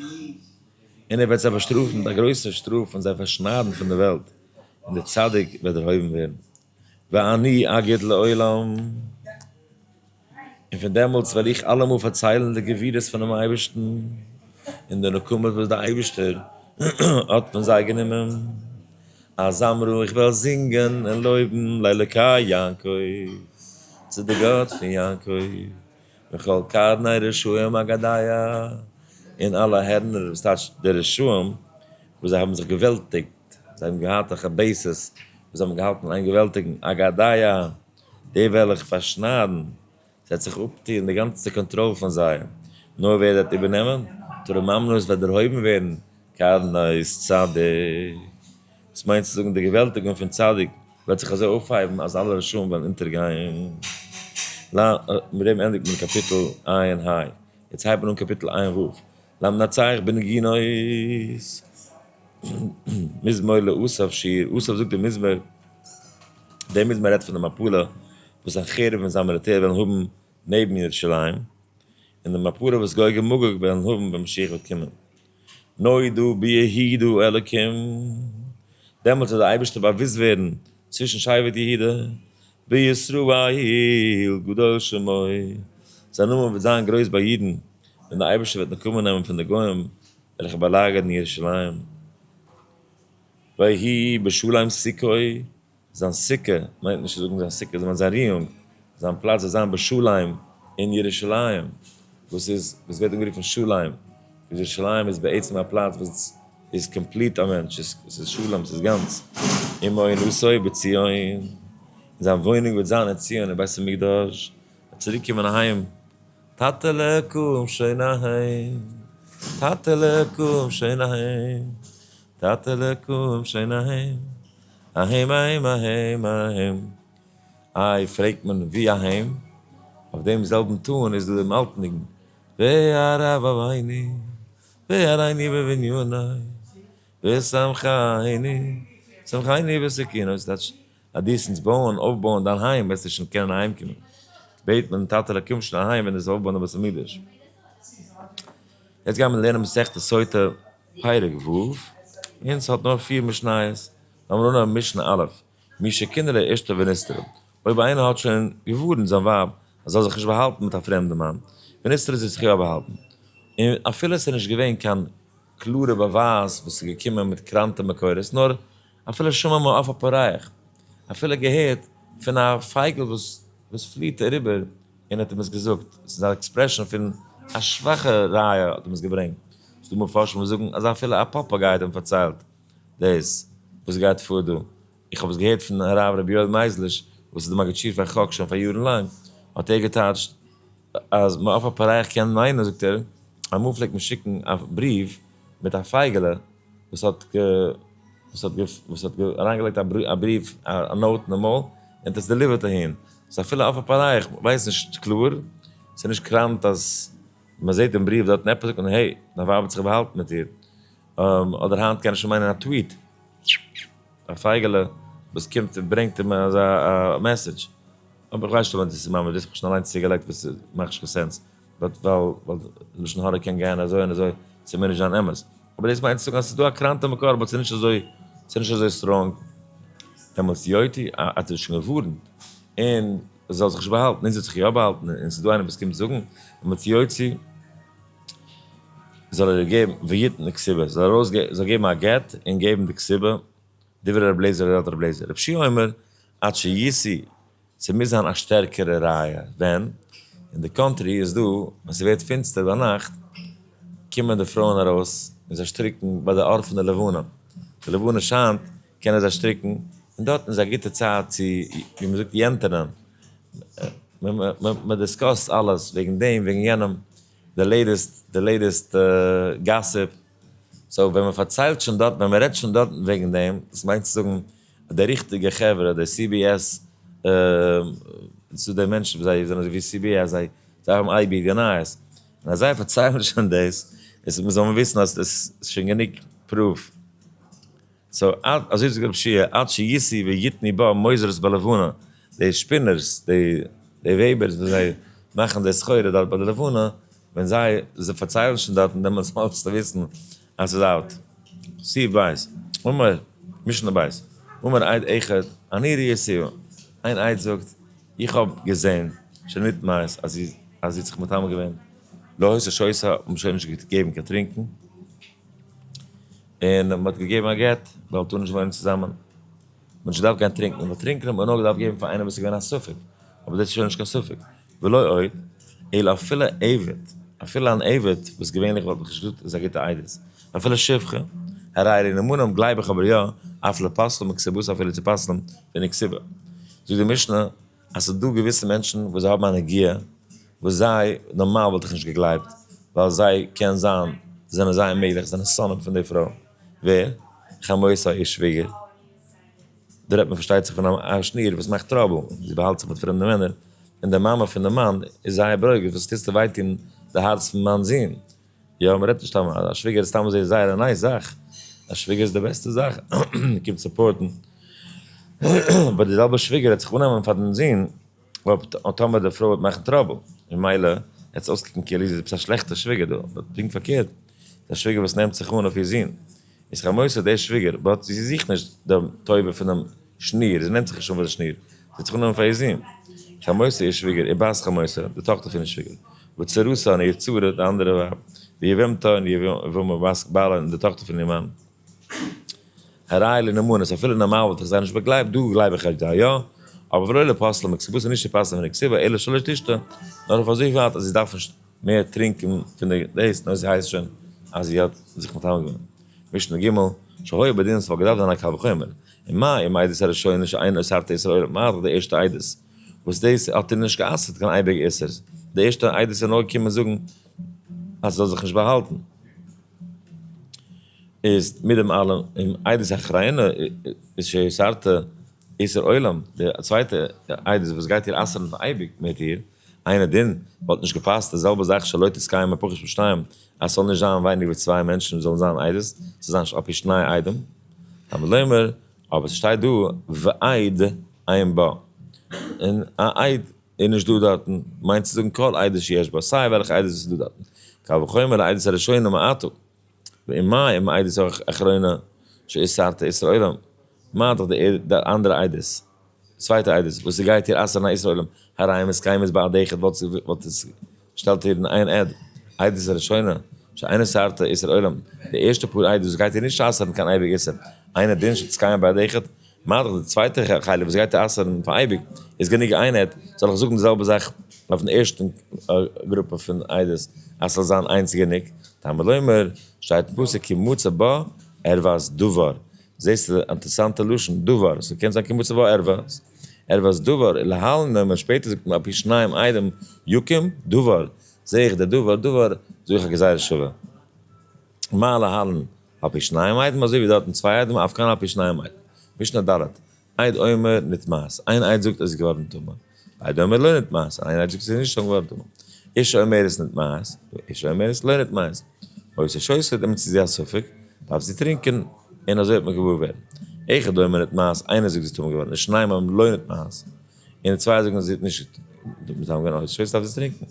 און ער וועט זיי באשטראפן מיט א גרויסער שטראף און זיי פארשניידן פון דער וועלט, און דער צדיק וועט דערהויבן ווערן, ואני אגיד לעולם. און פון דעמאלטס וועל איך אלעמאל פארציילן די גבורות פונעם אייבערשטן, און די נקמות וואס דער אייבערשטער האט פון זיי גענומען, אז זמרו איך וועל זינגען און לויבן לאלוקי יעקב, צו די גאט פון יעקב, וכל קרני רשעים אגדיה, און אלע הערנער, וואס טייטש די רשעים, וואס זיי האבן זיך געוועלטיגט, זיי האבן געהאט א כבשות, וואס זיי האבן געהאלטן איין געוועלטיגן, אגדיה. די וועל איך פארשניידן, ס'וועט זיך אפטוען די גאנצע קאנטראל פון זיי, נאר ווער ס'וועט איבערנעמען, תורה ממלכות וועט דערהויבן ווערן, קרנות צדק, דאס מיינט צו זאגן די געוועלטיגונג פון צדק, וועט זיך אזוי אויפהייבן אז אלע רשעים וועלן אונטערגיין. מיט דעם ענדיגט מען קאפיטל עיין היי. יעצט הייבט מען אן קאפיטל עיין וו. למנצח בנגינות, מזמור לאסף, שיר, אסף זאגט די מזמור, די מזמור רעדט פון די מפלה וואס סנחריב און זיין מיליטער וועלן האבן נעבן ירושלים, און די מפלה וואס גוג און מגוג וועלן האבן ווען משיח וועט קומען. נודו ביהודו אלקים, דעמאלטס וועט דער אייבערשטער באוואוסט ווערן צווישן שבט יהודה, בישראל גדול שמו, זיין נאמען וועט זיין גרויס ביי אידן, און דער אייבערשטער וועט נקמה נעמען פון די גוים וועלכע באלאגערן ירושלים, ויהי בשלום סוכו, זיין סוכה, מיינט נישט צו זאגן זיין סוכה, דאס מיינט זיין ריהונג, זיין פלאץ וועט זיין בשלום אין ירושלים, וואס איז, וואס ווערט אנגערופן שלום, וואס ירושלים איז בעצם א פלאץ וואס איז קאמפליט א מענטש, עס איז שלום, עס איז גאנץ, ומעונותו בציון, און זיין וואוינונג וועט זיין אין ציון אין בית המקדש, ער וועט צוריק קומען אהיים. טאטעלע קום שוין אהיים, טאטעלע קום שוין אהיים, טאטעלע קום שוין אהיים, אהיים אהיים אהיים אהיים. איי פרעגט מען ווי אהיים? אויף דעם זעלבן טאן איז דא דעם אלטן ניגון והר אבוויני והרייני בבניני ושמחייני שמחייני בסכינותי, ס'טייטש אז דו עסנסט בויען, אויפבויען דיין היים, וועסטו שוין קענען אהיימקומען. בעט מיט'ן טאטעלע קום שוין אהיים ווען דו וועסט אויפבויען די בית המקדש. יעצט גייען מיר לערנען מסכת סוטה פרק ו', און ס'האט נאר פיר משניות. לאמיר אנהויבן משנה א', מי שכנראה אשתו ונסתרה, אויב איינער האט שוין געווארנט זיין ווייב אז זי זאל זיך נישט באהאלטן מיט א פרעמדן מאן, ונסתרה זי האט זיך יא באהאלטן, און אפילו עס איז נישט געווען קיין קלארע באווייז וואס איז געקומען מיט קראנטע מקורות, נאר. אפילו שמע מה אף א פארייך, אפילו געהערט פון א פייגל וואס וואס פליעט אריבער און האט אים עס געזאגט, עס איז א עקספרעשאן פון א שוואכע ראיה האט אים עס געברענגט, ס'איז דא מפרשים וואס זאגן אז אפילו א פאפאגיי האט אים פארציילט דאס וואס גייט פאר דא, איך האב עס געהערט פון הרב רבי יואל מייזליש וואס איז די מגיד שיעור פאר חק שוין פאר יארן לאנג, האט ער געטייטשט. אז מען אויף א פאררייכט קען מיינען, זאגט ער, אמאל פלעגט מען שיקן א בריוו מיט א פייגעלע וואס האט וואס האט אריינגעלייגט א בריוו א נאוט אין מויל און האט עס דעליווערט אהין, סאו אפילו אויף א פאררייכט ווייסט נישט קלאר, ס'איז נישט קראנט אז מען זעט אין בריוו דארטן עפעס זאגט מען העי, דיין ווייב האט זיך באהאלטן מיט איר, אדער היינט קען עס שוין מיינען א טוויט. א פייגעלע וואס קומט און ברענגט אים אזא מעסעדזש, אבער איך ווייס נישט אויב ענדערש עס איז ממש דאס, איך האב שוין אליינס צוגעלייגט וואס איז מאכט נישט קיין סענס, ווייל לשון הרע קען גיין אזוי און אזוי, עס מוז נישט זיין אמת, אבער דאס מיינט צו זאגן אז עס איז דא א קראנטע מקור אבער עס איז נישט אזוי, עס איז נישט אזוי סטראנג. אמת יויתי האט ער שוין געווארנט און עס זאל זיך נישט באהאלטן, אונז האט זיך יא באהאלטן און עס איז דא איינער וואס קומט זאגן אמת יויתי. זאל ער געבן ויתן די כסובה, זאל ער ארויס זאל געבן א גט און געבן די כסובה, דברי רבי אליעזר ר' אלטר רבי אליעזר רב שי' אומר עד שישיא ס'מוז זיין א שטערקערע ראיה, ווען אין די קאנטרי איז דא ווען ס'ווערט פינסטער ביינאכט קומען די פרויען ארויס און זיי שטריקן ביי די אור פון די לבנה, די לבנה שיינט קענען זיי שטריקן, און דארטן איז א גוטע צייט צו, ווי מען זאגט, יענטערנען. מען דיסקאסט אלעס, וועגן דעם, וועגן יענעם, די לעיטעסט, די לעיטעסט גאסיפ. סאו ווען מען פארציילט שוין דארטן, ווען מען רעדט שוין דארטן וועגן דעם, דאס מיינט צו זאגן, די ריכטיגע חברה, די סי בי עס, ס'דא די מענטשן וואס זיי זענען אזוי ווי סי בי עס, זיי האבן אייביג די נייעס. און אז זיי פארציילן שוין דאס, זאל מען וויסן אז עס איז שוין גענוג פרוף. סאו אזוי זאגט רב שיע עד שישי ויתני בה מוזרות בלבנה, די שפינערס, די וועבערס וואס זיי מאכן די סחורה דארט ביי די לבנה, ווען זיי פארציילן שוין דארטן דעמאלטס האלסטו וויסן אז ס'איז אלט. סי' ב', אמר, משנה ב', אמר עד אחד אני ראיתיה, איין עד זאגט איך האב געזען שנית מעת אז זי האט זיך מטמא געווען, לא הוסיף שויסה, האט מען שוין נישט געגעבן קיין טרינקן. און מען האט געגעבן א גט ווייל טאר נישט וואוינען צוזאמען, מען האט נישט געדארפט גיין טרינקען, ווייל טרינקען האט מען נאר געדארפט געבן פאר איינעם וואס איז געווען א ספק, אבער דאס איז שוין נישט קיין ספק, ולא עוד, אלא אפילו עבד, אפילו אן עבד, וואס געווענליך וואלט מען נישט געזאגט איז א גוטע עדות, אפילו שפחה, הרי לנאמנים גלייב איך אבער יא, אף לפסלם מכסיבות אפילו צו פסל'ן פון די כסיבה, זאגט די משנה אז ס'איז דא געוויסע מענטשן וואס זיי האבן א נגיעה וואס זיי, נארמאל וואלט איך נישט געגלייבט, ווייל זיי קען זיין זענען זייער מעגליך זענען שונאים פון די פרוי, ווער? חמותה איר שוויגער, דא רעדט מען פארשטייט זיך פון א שניר וואס מאכט טראבל, זי באהאלט זיך מיט פרעמדע מענער, און די מאמע פון די מאן איז זייער ברוגז, וואס טוסטו וויי טון די הארץ פון מיין זון, יא מען רעדט נישט סתם, א שוויגער איז סתם אזוי זייער א נייס זאך, א שוויגער איז די בעסטע זאך, מען קומט סופארטן, אבער די זעלבע שוויגער העט זיך אננעמען פאר דעם זון אויב טאמער די פרוי וועט מאכן טראבל, ממילא העט עס אויסקוקן כאילו זי איז עפעס א שלעכטע שוויגער דא, אבער פונקט פארקערט, די שוויגער וואס נעמט זיך אן אויף איר זון, איז זיך א מוסר דער שוויגער באט זי זוכט נישט די טובה פונעם שניר זי נעמט זיך נישט אן פאר די שניר זי האט זיך אנגענומען פאר איר זון איז זיך א מוסר איר שוויגער איר בת חמוטה די טאכטער פונעם שוויגער וצרותן און איר צרה די אנדערע ווייב ויבמתן און יבמה בת בעלה און די טאכטער פון איר מאן הראיה לנאמנות אפילו נארמאל וואלט איך זיי נישט באגלייבט דא גלייב איך ערגער יא אבער ולא לפסלה מכסיבותא נישט צו פסל'ן מן הכסיבה אלא שלא תשתה נאר אויף אזוי ווייט אז זי דארף נישט מער טרינקען פון די דעיס נאר זי הייסט שוין אז זי האט זיך מטמא געווען. משנה ג' שהיה בדין ס'וואלט געדארפט זיין א קל וחומר, און מה עם העדות הראשונה שאין אוסרת איסור עולם מה אכ די ערשטע עדות וואס דאס האט איר נישט גע'אסר'ט קיין אייביג איסור, די ערשטע עדות איז נאר געקומען זאגן אז זאל זיך נישט באהאלטן. איז מיט דעם אלעם און עדות האחרינה איז שאוסרת איסור עולם די צווייטע עדות וואס גייט איר אסר'ן פאר אייביג מיט איר. איינע דין וואלט נישט געפאסט די זעלבע זאך שלא תתקיים הפוך מן שניים אז ס'זאל נישט זיין ווייניגער ווי צוויי מענטשן וואס זאלן זיין עדות ס'זאל זיין אפי' שני עדים תלמוד לומר אבער ס'שטייט דא ועד עין בה און א עד איז נישט דא דארטן מיינט צו זאגן כל עדות שיש בה סיי וועלכע עדות וואס איז דא דארטן קל וחומר עדות הראשונים מעתו. ואם מאי אם עדות אחרונה שהיא סרטה איסור עולם, מה דאך די אנדערע עדות, צווייטע עדות, וואס ס'גייט איר אסר'ן א איסור עולם, הראיה מתקיימת בעד אחד וואלט זי וואלט עס געשטעלט איר אין איין עד, עדות ראשונה שאינה סרטה איסור עולם, די ערשטע פאר עדות וואס גייט איר נישט אסר'ן קיין אייביג איסור, אינו דין שמתקיים בעד אחד, מאדערט די צווייטע חלק וואס גייט אסר'ן פאר אייביג איז גענוג איין עד, זאל איך זאגן די זעלבע זאך אויפן ערשטן גרופע פון עדות אז ס'זאל זיין איינס גענוג, תלמוד לומר, שטייט אין פסוק כי מצא בה ערוות דבר, זעסט די אינטערסאנטע לשון דבר, ס'קען זיין כי מצא בה ערוות ערוות דבר, און להלן נאמר שפעטער זאגט מען על פי שניים עדים יקום דבר, זעה איך די דבר דבר זאג איך א גזירה שווה. מה להלן על פי שניים עדים אזוי ווי דארטן צוויי עדים אויף כאן על פי שניים עדים משנה ד' עד אומר נתמאס איין עד זאגט עס איז געווארן טמא ועד אומר לא נתמאס און איין עד זאגט עס איז נישט שוין געווארן טמא איש האומרת נתמאס ואיש האומרת לא נתמאס אויב עס איז שוסע דעמאלט איז זי א ספק דארף זי טרינקען און אזוי וועט מען געוואר ווערן אחד אומר נתמאס איינער זאגט זי איז טמא געווארן ושניים אומרים לא נתמאס און די צווייער זאגן אז זי האט נישט געטוהן מיט א שווער דארף זי טרינקן,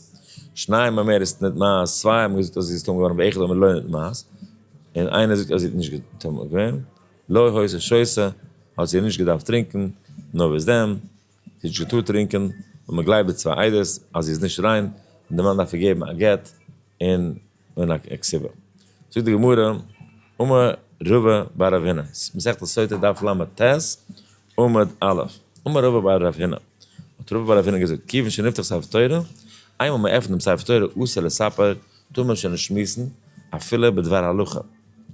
שניים האבן מער עס ניט מייז, צוויי האבן געזאגט אז זי איז טועם געווארן ואחד אומר לא ניט מייז, און איינער זאגט אז זי האט נישט געטוהן געווען, לא הויסע שויסע, האט זי נישט געדארפט טרינקן, נאר וואס דען, זי האט נישט געטארט טרינקען, און מען גלייבט די צוויי עדות אז זי איז נישט ריין, און די מאן דארף איר געבן א גט, און. אן א קציבה. זאגט די גמרא, אמר רבא בר רב הינא, מסכת סוטה דף ל ט עמוד א, אמר רבא בר רב הינא, האט רבא בר רב הינא געזאגט, כיוון שנפתח ספר תורה, איינמאל מען עפנט דעם ספר תורה אסור לספר, טאר מען שוין נישט שמועסן, אפילו בדבר הלכה,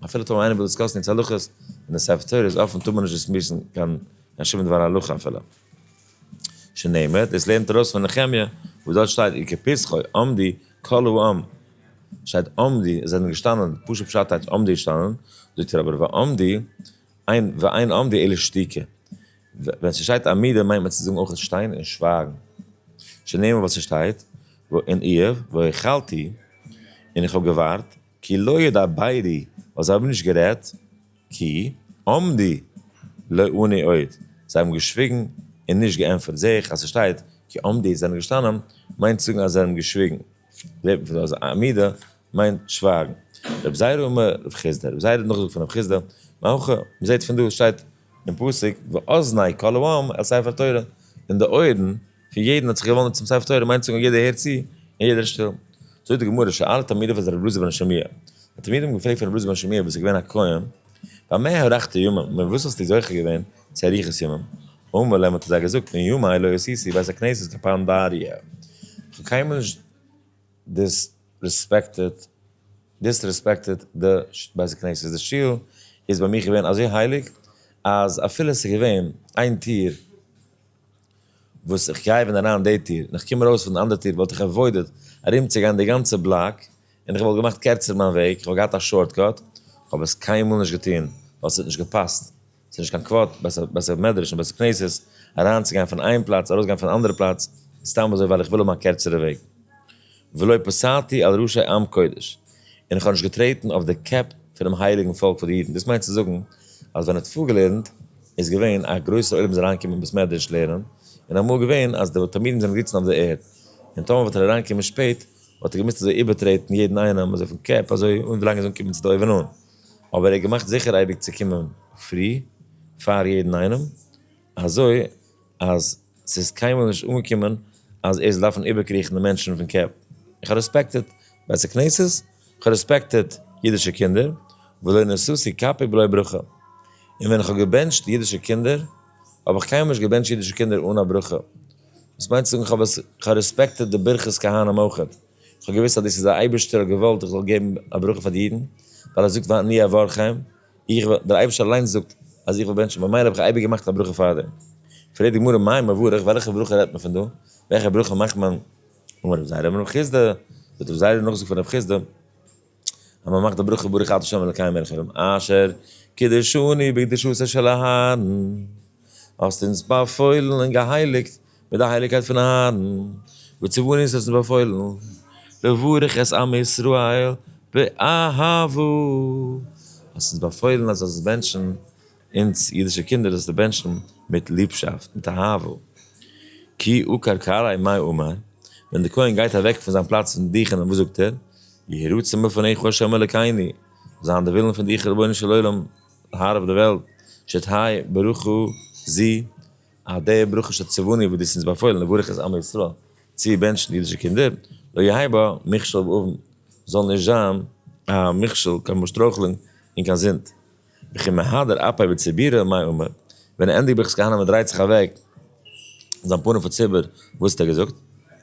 אפילו טאמער איינער וויל דיסקאסן יעצט הלכות, ווען דער ספר תורה איז אפן טאר מען נישט דיסמיסן קיין שום דבר הלכה אפילו. שנאמר, דאס לערנט ארויס פון נחמיה וואס דארט שטייט און כפסחו עמדי כל העם, שטייט עמדי זיי זענען געשטאנען, פשוט פשט הייטש עמדי געשטאנען, זאגט ער אבער ועמדי אין ואין עמדי אלא שתיקה, ווען ס'שטייט עמידה מיינט מען צו זאגן אויך שטיין און שווייגן, שנאמר ווייל ס'שטייט ואין איוב והיכלתי און איך האב געווארט כי לא ידע בעדי ווייל זיי האבן נישט גערעדט, כי עמדי לא עני עוד, זיי האבן געשוויגן און נישט געענטפערט. זע איך אז ס'שטייט כי עמדי זענען געשטאנען מיינט צו זאגן אז זיי האבן געשוויגן. זעט מען פון דא אז עמידה מיינט שווייגן. רב זיירא אמר רב חיסדא, רב זיירא האט נאכגעזאגט פון רב חיסדא, מאן כ, מ'זעט פון דא, ס'שטייט אין פסוק, ואזני כל העם אל ספר תורה, און די אויערן, פון יעדן האט זיך געוואנדן צום ספר תורה, מיינט צו זאגן יעדער הערט צו און יעדער איז שטיל. זאגט די גמרא, שאל תלמידיו את רבי אלעזר בן שמעיה, די תלמידים האבן געפרעגט פון רבי אלעזר בן שמעיה וואס איז געווען א כהן, במה הארכת ימים, מיט וואס האסטו זוכה געווען צו אריכות ימים, אמר להם האט ער זיי געזאגט, מן יומי לא עשיתי בית הכנסת כפעם באריה, איך האב קיינמאל נישט דיסרעספעקטעד דיסרעספעקטעד די בית הכנסת, די שול איז ביי מיך געווען אזוי הייליג אז אפילו עס איז געווען איין טיר, וואס איך גיי ווען אריין די טיר און איך קום ארויס פון די אנדערע טיר וואלט איך עוואוידעד ארומצוגיין די גאנצע בלאק און איך וואלט געמאכט קערצער מיין וועג, איך וואלט געהאט א שארט קאט, כ'האב עס קיינמאל נישט געטון ווייל ס'האט נישט געפאסט, ס'איז נישט קיין כבוד בית המדרש און בית הכנסת אריינצוגיין פון איין פלאץ ארויסגיין פון אנדערע פלאץ סתם אזוי ווייל איך וויל האבן א קערצערע וועג. ולא פסעתי על ראשי עם קודש, און איך האב נישט געטרעטן אויף די קעפ פונעם הייליגן פאלק פון די אידן, דאס מיינט צו זאגן אז ווען ער האט פארגעלערנט איז געווען א גרויסע עולם זאל אריינקומען אין בית מדרש לערנען, און אמאל איז געווען אז די תלמידים זענען געזיצן אויף די ערד, און טאמער וואלט ער אריינגעקומען שפעט וואלט ער געמוזט אזוי איבערטרעטן יעדן איינעם אזוי פון קעפ אזוי אן ווילאנג ער זאל אנקומען צו די אויבן אן, אבער ער האט געמאכט זיכער אייביג צו קומען פרי פאר יעדן איינעם, אזוי. אז ס'איז קיינמאל נישט אנגעקומען אז ער זאל דארפן איבערקריכן די מענטשן פון קעפ. איך האב רעספעקטעד בית הכנסת, איך האב רעספעקטעד אידישע קינדער, ולא נשאתי כפי בלא ברכה. און ווען איך האב געבענטשט אידישע קינדער, האב איך קיינמאל נישט געבענטשט אידישע קינדער אן א ברכה. דאס מיינט צו זאגן איך האב רעספעקטעד די ברכת כהנים אויך. איך האב געוואוסט אז דאס איז א אייבערשטער האט געוואלט איך זאל געבן א ברכה פאר די אידן, ווייל ער זאגט ואני אברכם. איך וועל, דער אייבערשטער אליינס זאגט אז איך וועל בענטשן, ממילא האב איך אייביג געמאכט א ברכה פארדעם. פרעגט די גמרא מאי מברך, וועלכע ברכה רעדט מען פון דא? וועלכע ברכה מאכט מען? אמר רב זיידא אמר רב חיסדא, זאגט רב זיידא נאכזאג פון רב חיסדא, אז מען מאכט די ברכה ברוך אתה ה' אלקי מלך העולם אשר קידשני בקדושתו של אהרן, האסט אונז באפוילן און געהייליגט מיט די הייליגקייט פון אהרן, בצבעון איז עס באפוילן, לברך את עם ישראל באהבה, האסט אונז באפוילן אז זאלסט בענטשן אונז אידישע קינדער, זאלסטו בענטשן מיט ליבשאפט, מיט אהבה, כי עוקר קרעי מאי אומר, ווען די כהן גייט אוועק פון זיין פלאץ פון דיכן וואס זאגט ער, יהי רצון מלפניך ה' אלקינו, זאל זיין די ווילן פון דיך רבונו של עולם הרב די וועלט, שתהי' ברוך הוא זי ע. אז די ברכה של צבני וואס דו האסט אונז באפוילן לברך את עמי ישראל צו בענטשן די אידישע קינדער, לא יהי' בה מכשול ואבן, זאל נישט זיין א מכשול קיין באשטרויכלונג און קיין זינד. וכי מהדר אפי' בציבורא מאי אומר, ווען ער ענדיגט ברכת כהנא און דרייט זיך אוועק זיין פנים פון ציבור, וואס האט ער געזאגט?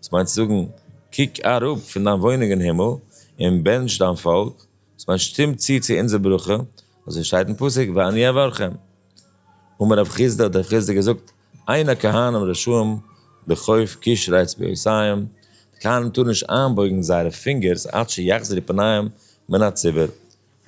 דאס מיינט צו זאגן, קוק אראפ פון דיין וואוינונג אין הימל, און בענטש דיין פאלק, דאס מיינט שטום צו צו אונזער ברכה, אזוי שטייט אין פסוק ואני אברכם. אמר רב חיסדא, האט רב חיסדא געזאגט, אין הכהנים רשעים בכף קשרי אצבעותיהם, די כהנים טארן נישט איינבויגן זייערע פינגערס עד שיחזרו פניהם מן הציבור.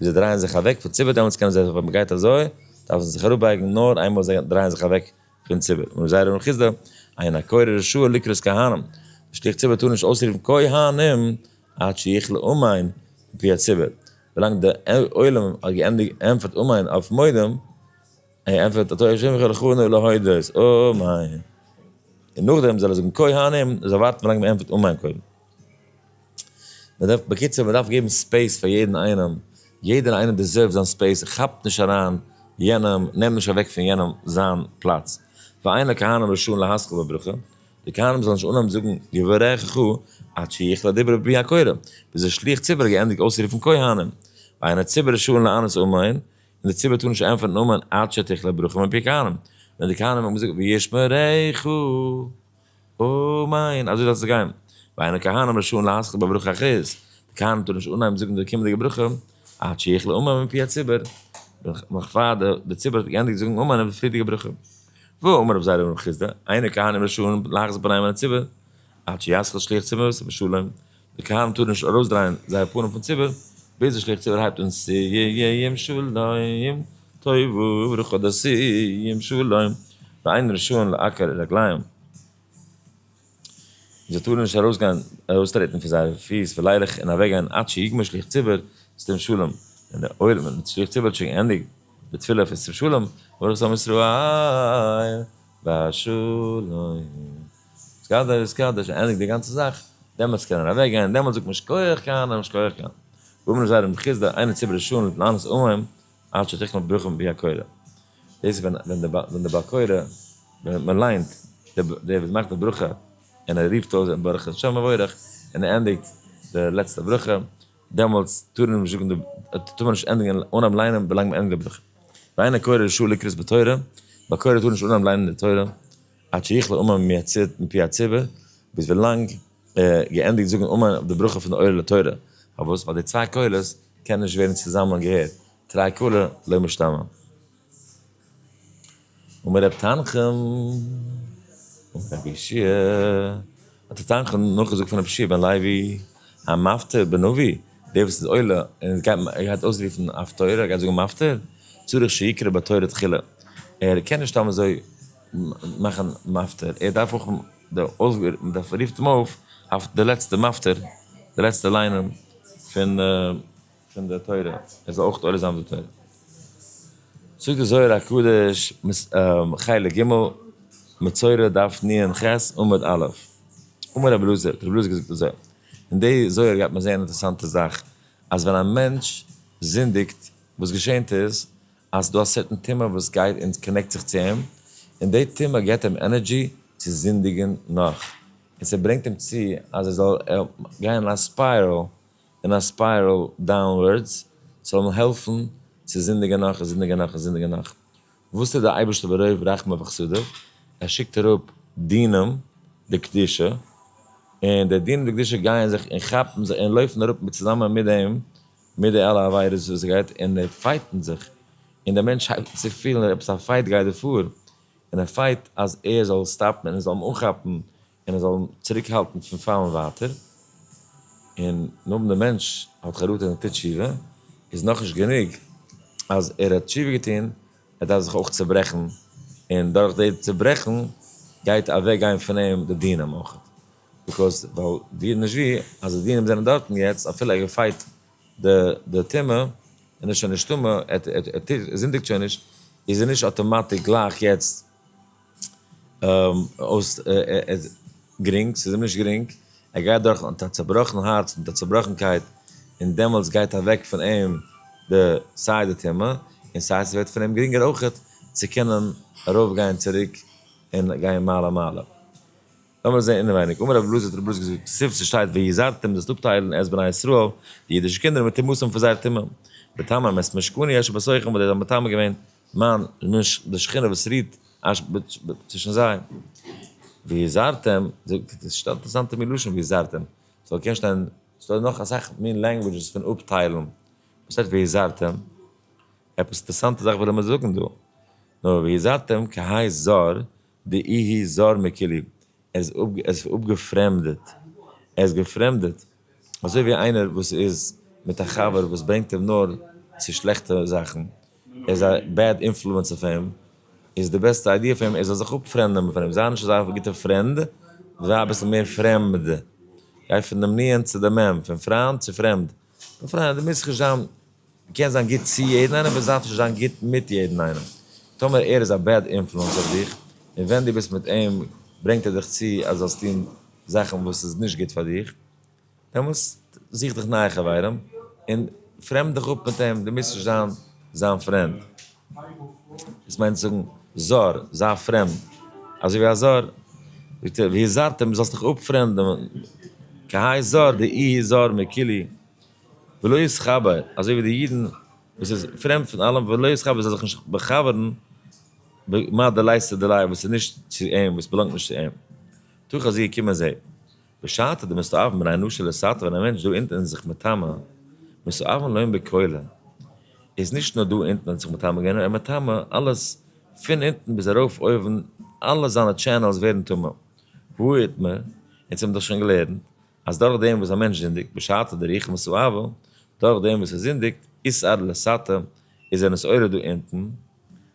ווי זיי דרייען זיך אוועק פון ציבור דעמאלטס קענען זיי זיך ווען מען גייט אזוי דארפן זיי זיך אראפבייגן נאר איינמאל זיי דרייען זיך אוועק פון ציבור און ר' זיידא בן חסדא עיין הקורא רשאי לקרוא כהנים די שליח ציבור טאר נישט אויסרופן כהנים עד שיכלה אמן מפי הציבור ווילאנג די עולם האט געענטפערט אמן אויף מודים ער ענטפערט אתה ה' אחיך לכונו להודות אמן און נאכדעם זאל ער זאגן כהנים זאל ווארטן ווילאנג מען ענטפערט אמן קודם. מען דארף בקיצור מען דארף געבן ספעיס פאר יעדן איינעם, יעדער איינער דיזערווט זיין ספעיס, כאפט נישט אריין יענעם, נעם נישט אוועק פון יענעם זיין פלאץ, ואין הכהנים רשאין להשכיל בברכה, די כהנים זאלן נישט אנהויבן זאגן יברכך עד שיחל הדיבור בפי הקורא, ביז דער שליח ציבור האט געענדיגט אויסרופן כהנים, ואין הציבור רשאין לענות אמן, און דער ציבור טאר נישט ענטפערן אמן עד שתיחל הברכה מפי הכהנים, ווען די כהנים האבן געזאגט וישמריך. אוה ניין, אזוי דארף עס גיין. ואין הכהנים רשאין להסכם בברכה אחרת, די כהנים טארן נישט אנהייבן זאגן די קומענדיגע ברכה עד שיכלה אמן מפי הציבור, נאך פאר די ציבור האט געענדיגט זאגן אמן אויף די פריערדיגע ברכה. והא אמר רב זיידא בן רב חיסדא, אין הכהנים רשאין להחזיר פנים אל הציבור עד שישכיל שליח ציבור ואת המשלים, די כהנים טארן נישט ארויסדרייען זייער פנים פון ציבור ביז די שליח ציבור הייבט אן סיום שלום טוב וברוך אדער סיום שלום ואין ראשון לעקר רגליים, און זיי טארן נישט ארויסגיין ארויסטרעטן פון זייערע פיס פלייערלעך און אוועקגיין עד שיגמור שליח ציבור סיום שלום, ווען דער עולם און שליח ציבור האט שוין געענדיגט די תפילה פון סיום שלום, ברוך אתה מישראל והשלום. סקאדער איז סקאדער, שוין ענדיג די גאנצע זאך, דעמאלטס קען ער אוועק גיין, דעמאלטס זאגט מען שכוח קיינעם, שכוח קיינעם. ואם לא זר דמכיס די עיני ציבור לשון להתנענס עמהם עד שתכלה ברוחם מפי הקורא. דאס ווען ווען די ווען די בעל קורא ווען מען ליינט די דער וואס מאכט די ברכה און ער רופט אויס ברך את שם מבורך און ער ענדיגט די לעצטע ברכה דעמאלטס טאר מען נישט זאגן די טאר מען נישט ענדיגן אנהייבן ליינען ווילאנג מען ענדיגט די ברכה. ואין הקורא רשאי לקראת בתורה, בעל קורא טאר נישט אנהייבן ליינען די תורה. עד שיכלה אומן מיצית מפי הציבור, ביז ווילאנג ער געענדיגט זאגן אמן אויף די ברכה פון די עולה לתורה, פארוואס? ווייל די צוויי קולות קענען נישט ווערן צוזאמען געהערט, תרי קולא לא משתמע. אמר ר' תנחום, אמר רבי ישעי', האט ר' תנחום נאכגעזאגט פון רבי ישעי' בן לוי, המפטיר בנביא, דער וואס איז עולה און גייט אויסרופן אויף תורה, גייט זאגן מפטיר, צריך שיקרא בתורה תחילה, ער קען נישט סתם אזוי, נאכן מפטיר, ער דארף אויך די אויסגעהערט, מען דארף רופט אים אויף אויף די לעצטע מפטיר, די לעצטע ליינען פון די פון די תורה, ער זאל אויך עולה זיין די תורה. זאגט די זוהר הקדוש, חלק ג', מצורע דף נ ח עמוד א', אמר רבי אלעזר, רבי אלעזר האט געזאגט אזוי, אין די זוהר גייט מען זעהן אינטערסאנטע זאך, אז ווען א מענטש זינדיגט, וואס געשענט איז, אז ס'דא א סערטען טעמע וואס גייט און קאנעקט זיך צו אים, און די טעמע געבט אים ענערדזשי צו זינדיגען נאך, און ס'ברענגט אים צו אז ער זאל גיין אין א ספיירעל, אין א ספיירעל דאונווארדס, ס'זאל אים העלפן צו זינדיגען נאך און זינדיגען נאך און זינדיגען נאך. וואס טוט די אייבערשטער ברוב רחמיו וחסדיו? ער שיקט אראפ דינים דקדושה, און די דינים דקדושה גייען זיך און כאפן זיך און לויפן אראפ צוזאמען מיט דעם, מיט די אלע עבירות וואס עס גייט און די פייטן זיך און די מענטש הייבט אן צו פילן אז עפעס א פייט גייט דא פאר און ער פייט אז ער זאל סטאפן און עס זאל אים אנכאפן און עס זאל אים צוריק האלטן פון פאלן ווייטער און נאכדעם די מענטש האט חרטה און ער טוט תשובה איז נאכנישט גענוג אז ער האט תשובה געטון ער דארף זיך אויך צוברעכן און דורך די צוברעכן גייט אוועק גיין פון אים די דינים אויך. ביקאוז ווייל ווי נישט ווי אז די דינים זענען דארטן יעצט אפילו ער געפייט די די טומאה און איז שוין נישט טמא ער טוט ער זינדיגט שוין נישט איז ער נישט אטאמאטיק גלייך יעצט אויס גרינג ס'איז אים נישט גרינג ער גייט דורך מיט א צובראכן הארץ מיט א צובראכנקייט און דעמאלטס גייט אוועק פון אים די סיי די טומאה און סיי ס'ווערט פון אים גרינגער אויכעט צו קענען ארויפגיין צוריק און גיין מעלה מעלה. לאמיר זעהן אינעווייניג, אמר רבי אלעזר האט רבי אלעזר געזאגט, ספ ס שטייט ויזרתם זאלסט אפטיילן את בני ישראל, די אידישע קינדער מיט טעמותים פון זייער טעמים, בטעמים את משכני אשר בסוכם וואס די האבן מטמא געווען מיין משכ די שכינה וואס רוהט אש ב ב צווישן זיי, ויזרתם, ס'איז א אינטערעסאנטע מין לשון ויזרתם, ס'זאל קען שטיין, ס'דא נאך אסאך מין לענגווידזשעס פון אפטיילן, וואס הייסט ויזרתם? עפעס אינטערעסאנטע זאך וויל ער מיר זאגן דא, נו ויזרתם כהאי זר. די איהי זאר מקילי, ער איז אפגעפרעמדעט, ער איז געפרעמדעט, אזוי ווי איינער וואס איז מיט א חבר וואס ברענגט אים נאר צו שלעכטע זאכן, ער איז א בעד אינפלוענס אויף אים, איז די בעסטע איידיע פאר אים ער זאל זיך אפפרעמדען פון אים, זיי נישט אזא גוטע פרענד, זיי אביסל מער פרעמד, גיי פון דעם ניענט צו דעם מעם, פון פריינד צו פרעמד. מיין פריינט, דו מוזט נישט זיין, דו קענסט זיין גוט צו יעדן איינעם, אבער זייט נישט זיין גוט מיט יעדן איינעם. טאמער ער איז א בעד אינפלוענס אויף דיך, און ווען דו ביסט מיט אים ברענגט ער דיך צו אז זאלסט טון זאכן וואס איז נישט גוט פאר דיך, דעמאלטס זוך דיך נייע חברים, און פרעמד דיך אפ מיט אים, דו מוזט נישט זיין זיין פרענד. דאס מיינט זאגן, זאר, זיי פרעמד, אזוי ווי א זאר, זאגט ער, והזהרתם, דו זאלסט דיך אפפרעמדען, כי הי' זאר, די אי איז זאר מקילי, ולא יתחבר, אזוי ווי די אידן, וואס איז פרעמד פון אלעם, ולא יתחבר, וואס זאל זיך נישט באחבר'ן, במה דלייסא דליה, וואס איז נישט צו אים, וואס באלאנגט נישט צו אים. תוך אז זי געקומען זי. בשעתו די מסואב מן האנושה לסתר ווען א מענטש דא אונטן איז זיך מטמא, מסואבן לוין בקהלה, איז נישט נאר דא אונטן האט זיך מטמא געווען נאר ער איז מטמא אלעס פון אונטן ביז ארויף אויבן אלע זיינע טשענעלס ווערן טמא, והא איתמר, אונז האבן דאך שוין געלערנט אז דורך דעם וואס א מענטש זינדיגט בשעתו די רוח מסואבה, דורך דעם וואס ער זינדיגט איסר לסתר איז ער נסערה דא אונטן,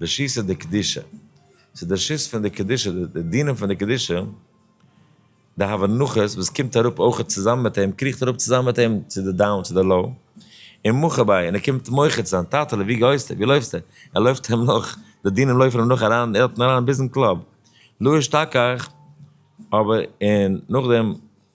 די שיסע די קדישה, ס'איז די שיס פון די קדישה, די דינים פון די קדישה, די הבנחות וואס קומט אראפ אויכעט צוזאמען מיט אים, קריכט אראפ צוזאמען מיט אים צו די דאון צו די לאו, און מוחה ביי און ער קומט מוחה צו זיין, טאטעלע ווי גייסטו, ווי לויפסטו, ער לויפט אים נאך, די דינים לויפן אים נאך אריין, ער האט אים אריין ביזן קלאב, לא אשתכח, אבער און נאכדעם.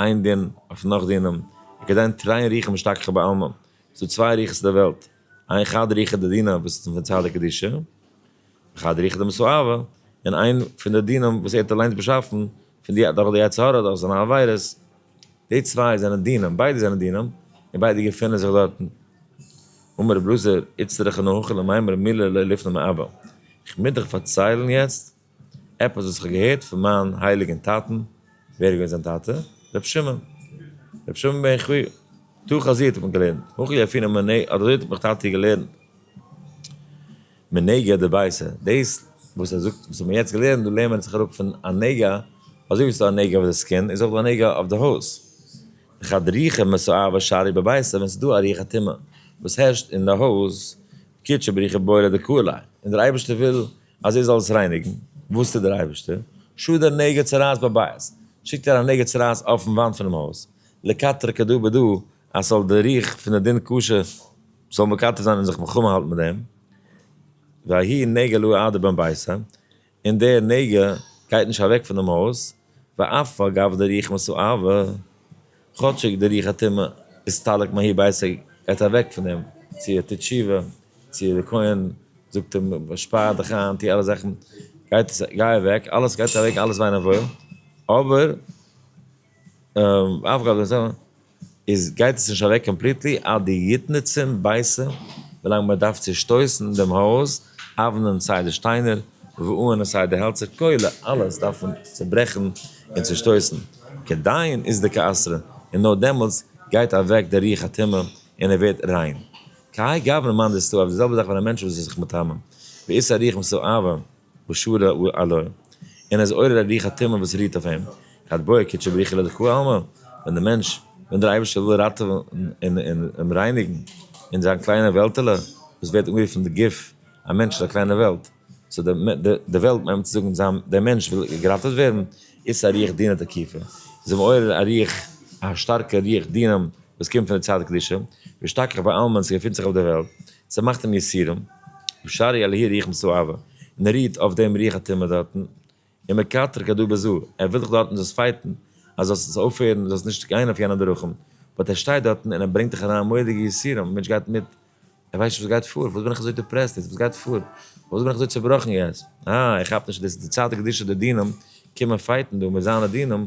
איין דין אויף נאך דינען, איך געדענק נישט טרייען ריחם השתכחה בעלמא, ס'איז דא צוויי ריחות אין די וועלט, איין חד ריחא דדינא וואס איז פון צד הקדושה, וחד ריחא דמסואבה, און איין פון די דינים וואס ער האט אליינס באשאפן פון די דורך די יצר הרע דורך זיינע עבירות, די צוויי זענען דינים, ביידע זענען דינים, און ביידע געפונען זיך דארטן. אמר רב אלעזר איצטרך אנא הוכחה למימר מילא לא לפני מעבר, איך מוז דיך פארציילן יעצט עפעס וואס איך האב געהערט פון מיין הייליגען טאטען, ווער איז געווען זיין טאטע? ר' שמעון, ר' שמעון בן חי, תוא חזי האט מיך געלערנט, הוכי אפי' נאר מנ ע, אדער אזוי האט מיך טאטי געלערנט, מנהיגא דבעשה, דאס וואס ער זאגט, וואס האבן מיר יעצט געלערנט, דא לערנט מען זיך אראפ פון א נגע, אזוי ווי ס'איז דא א נגע אויף די סקין, איז אויך דא א נגע אויף די הויז, וכד ריחה מסואבה אשארי בביתו, ווען ס'איז דא א ריח א טומאה וואס הערשט אין די הויז, קידשא בריחה בועלא דקהלא, און דער אייבערשטער וויל אז ער זאל עס רייניגן, וואס טוט דער אייבערשטער? שו דער נגע צרעת בבית, שיקט ער א נגע צרעת אויפן וואנט פונעם הויז, לקטר כדא בדא, אז ס'זאל די ריח פון די דין קשה זאל מקטר זיין און זיך מלחמה האלטן מיט דעם, וההיא נגע לא עדה בין ביתה, און דער נגע גייט נישט אוועק פונעם הויז, ואף על גב די רוח משא אבה, כאטשיג די רוח הטומאה איז סטאליק מהאי בעיסיק גייט אוועק פון אים, צו ער טוט תשובה, צו די כהן זאגט אים שפאר דיך איין, טו אלע זאכן, גייט עס גיי אוועק, אלעס גייט אוועק, אלעס וועין אוואויל, אבער ואף על גב די רוח משא אבה, איז גייט עס נישט אוועק קאמפליטלי עד די יתנצם בייסע ווילאנג מען דארף צושטויסן דעם הויז אוונען סיי די שטיינער וואוען סיי די העלצער כולל אלעס דארף מען צוברעכן און צושטויסן כדין איז די כעסרא און נאר דעמאלטס גייט אוועק די רוח הטומאה און ער ווערט ריין כהאי גוונא מאן דסתאוה אויף די זעלבע זאך ווען א מענטש וואס איז זיך מטמא באיסור ריח מסואבה ושרה עליה, און ער איז עורר א ריח הטומאה וואס רוהט אויף אים, כד בויע קדשי בריחי לדכוה עלמא, ווען דער מענטש, ווען דער אייבערשטער וויל ראטעווען און אים רייניגן אין זיין קליינע וועלטעלע, וואס ווערט אנגערופן די גוף, א מענטש איז א קליינע וועלט, סאו די וועלט מיינט צו זאגן זיין דער מענטש וויל געראטעוועט ווערן, איז עס א ריח דינה תקיפה, איז אים עורר א ריח, א שטארקע ריח דינים וואס קומט פון די צד קדושה, והשתכח בעלמא און ס'געפינט זיך אויף די וועלט. ס'מאכט אים יסורים, ושרי אל העיר ריחם סואבה, און ער רוהט אויף דעם ריח הטומאה דארטן, און מקטרג הדא בזו, ער וויל זיך דארטן דאס פייטן אז זאלסט עס אויפהערן, זאלסט נישט גיין אויף יענע דרכים, באט ער שטייט דארטן און ער ברענגט דיך אריין מורא'דיגע יסורים, א מענטש גייט מיט, ער ווייסט נישט וואס גייט פאר, פארוואס בין איך אזוי דיפרעסט יעצט, וואס גייט פאר, פארוואס בין איך אזוי צובראכן יעצט, אה ער כאפט נישט אז דאס איז די צד הקדושה די דינים קומען פייטן דא מיט זיינע דינים,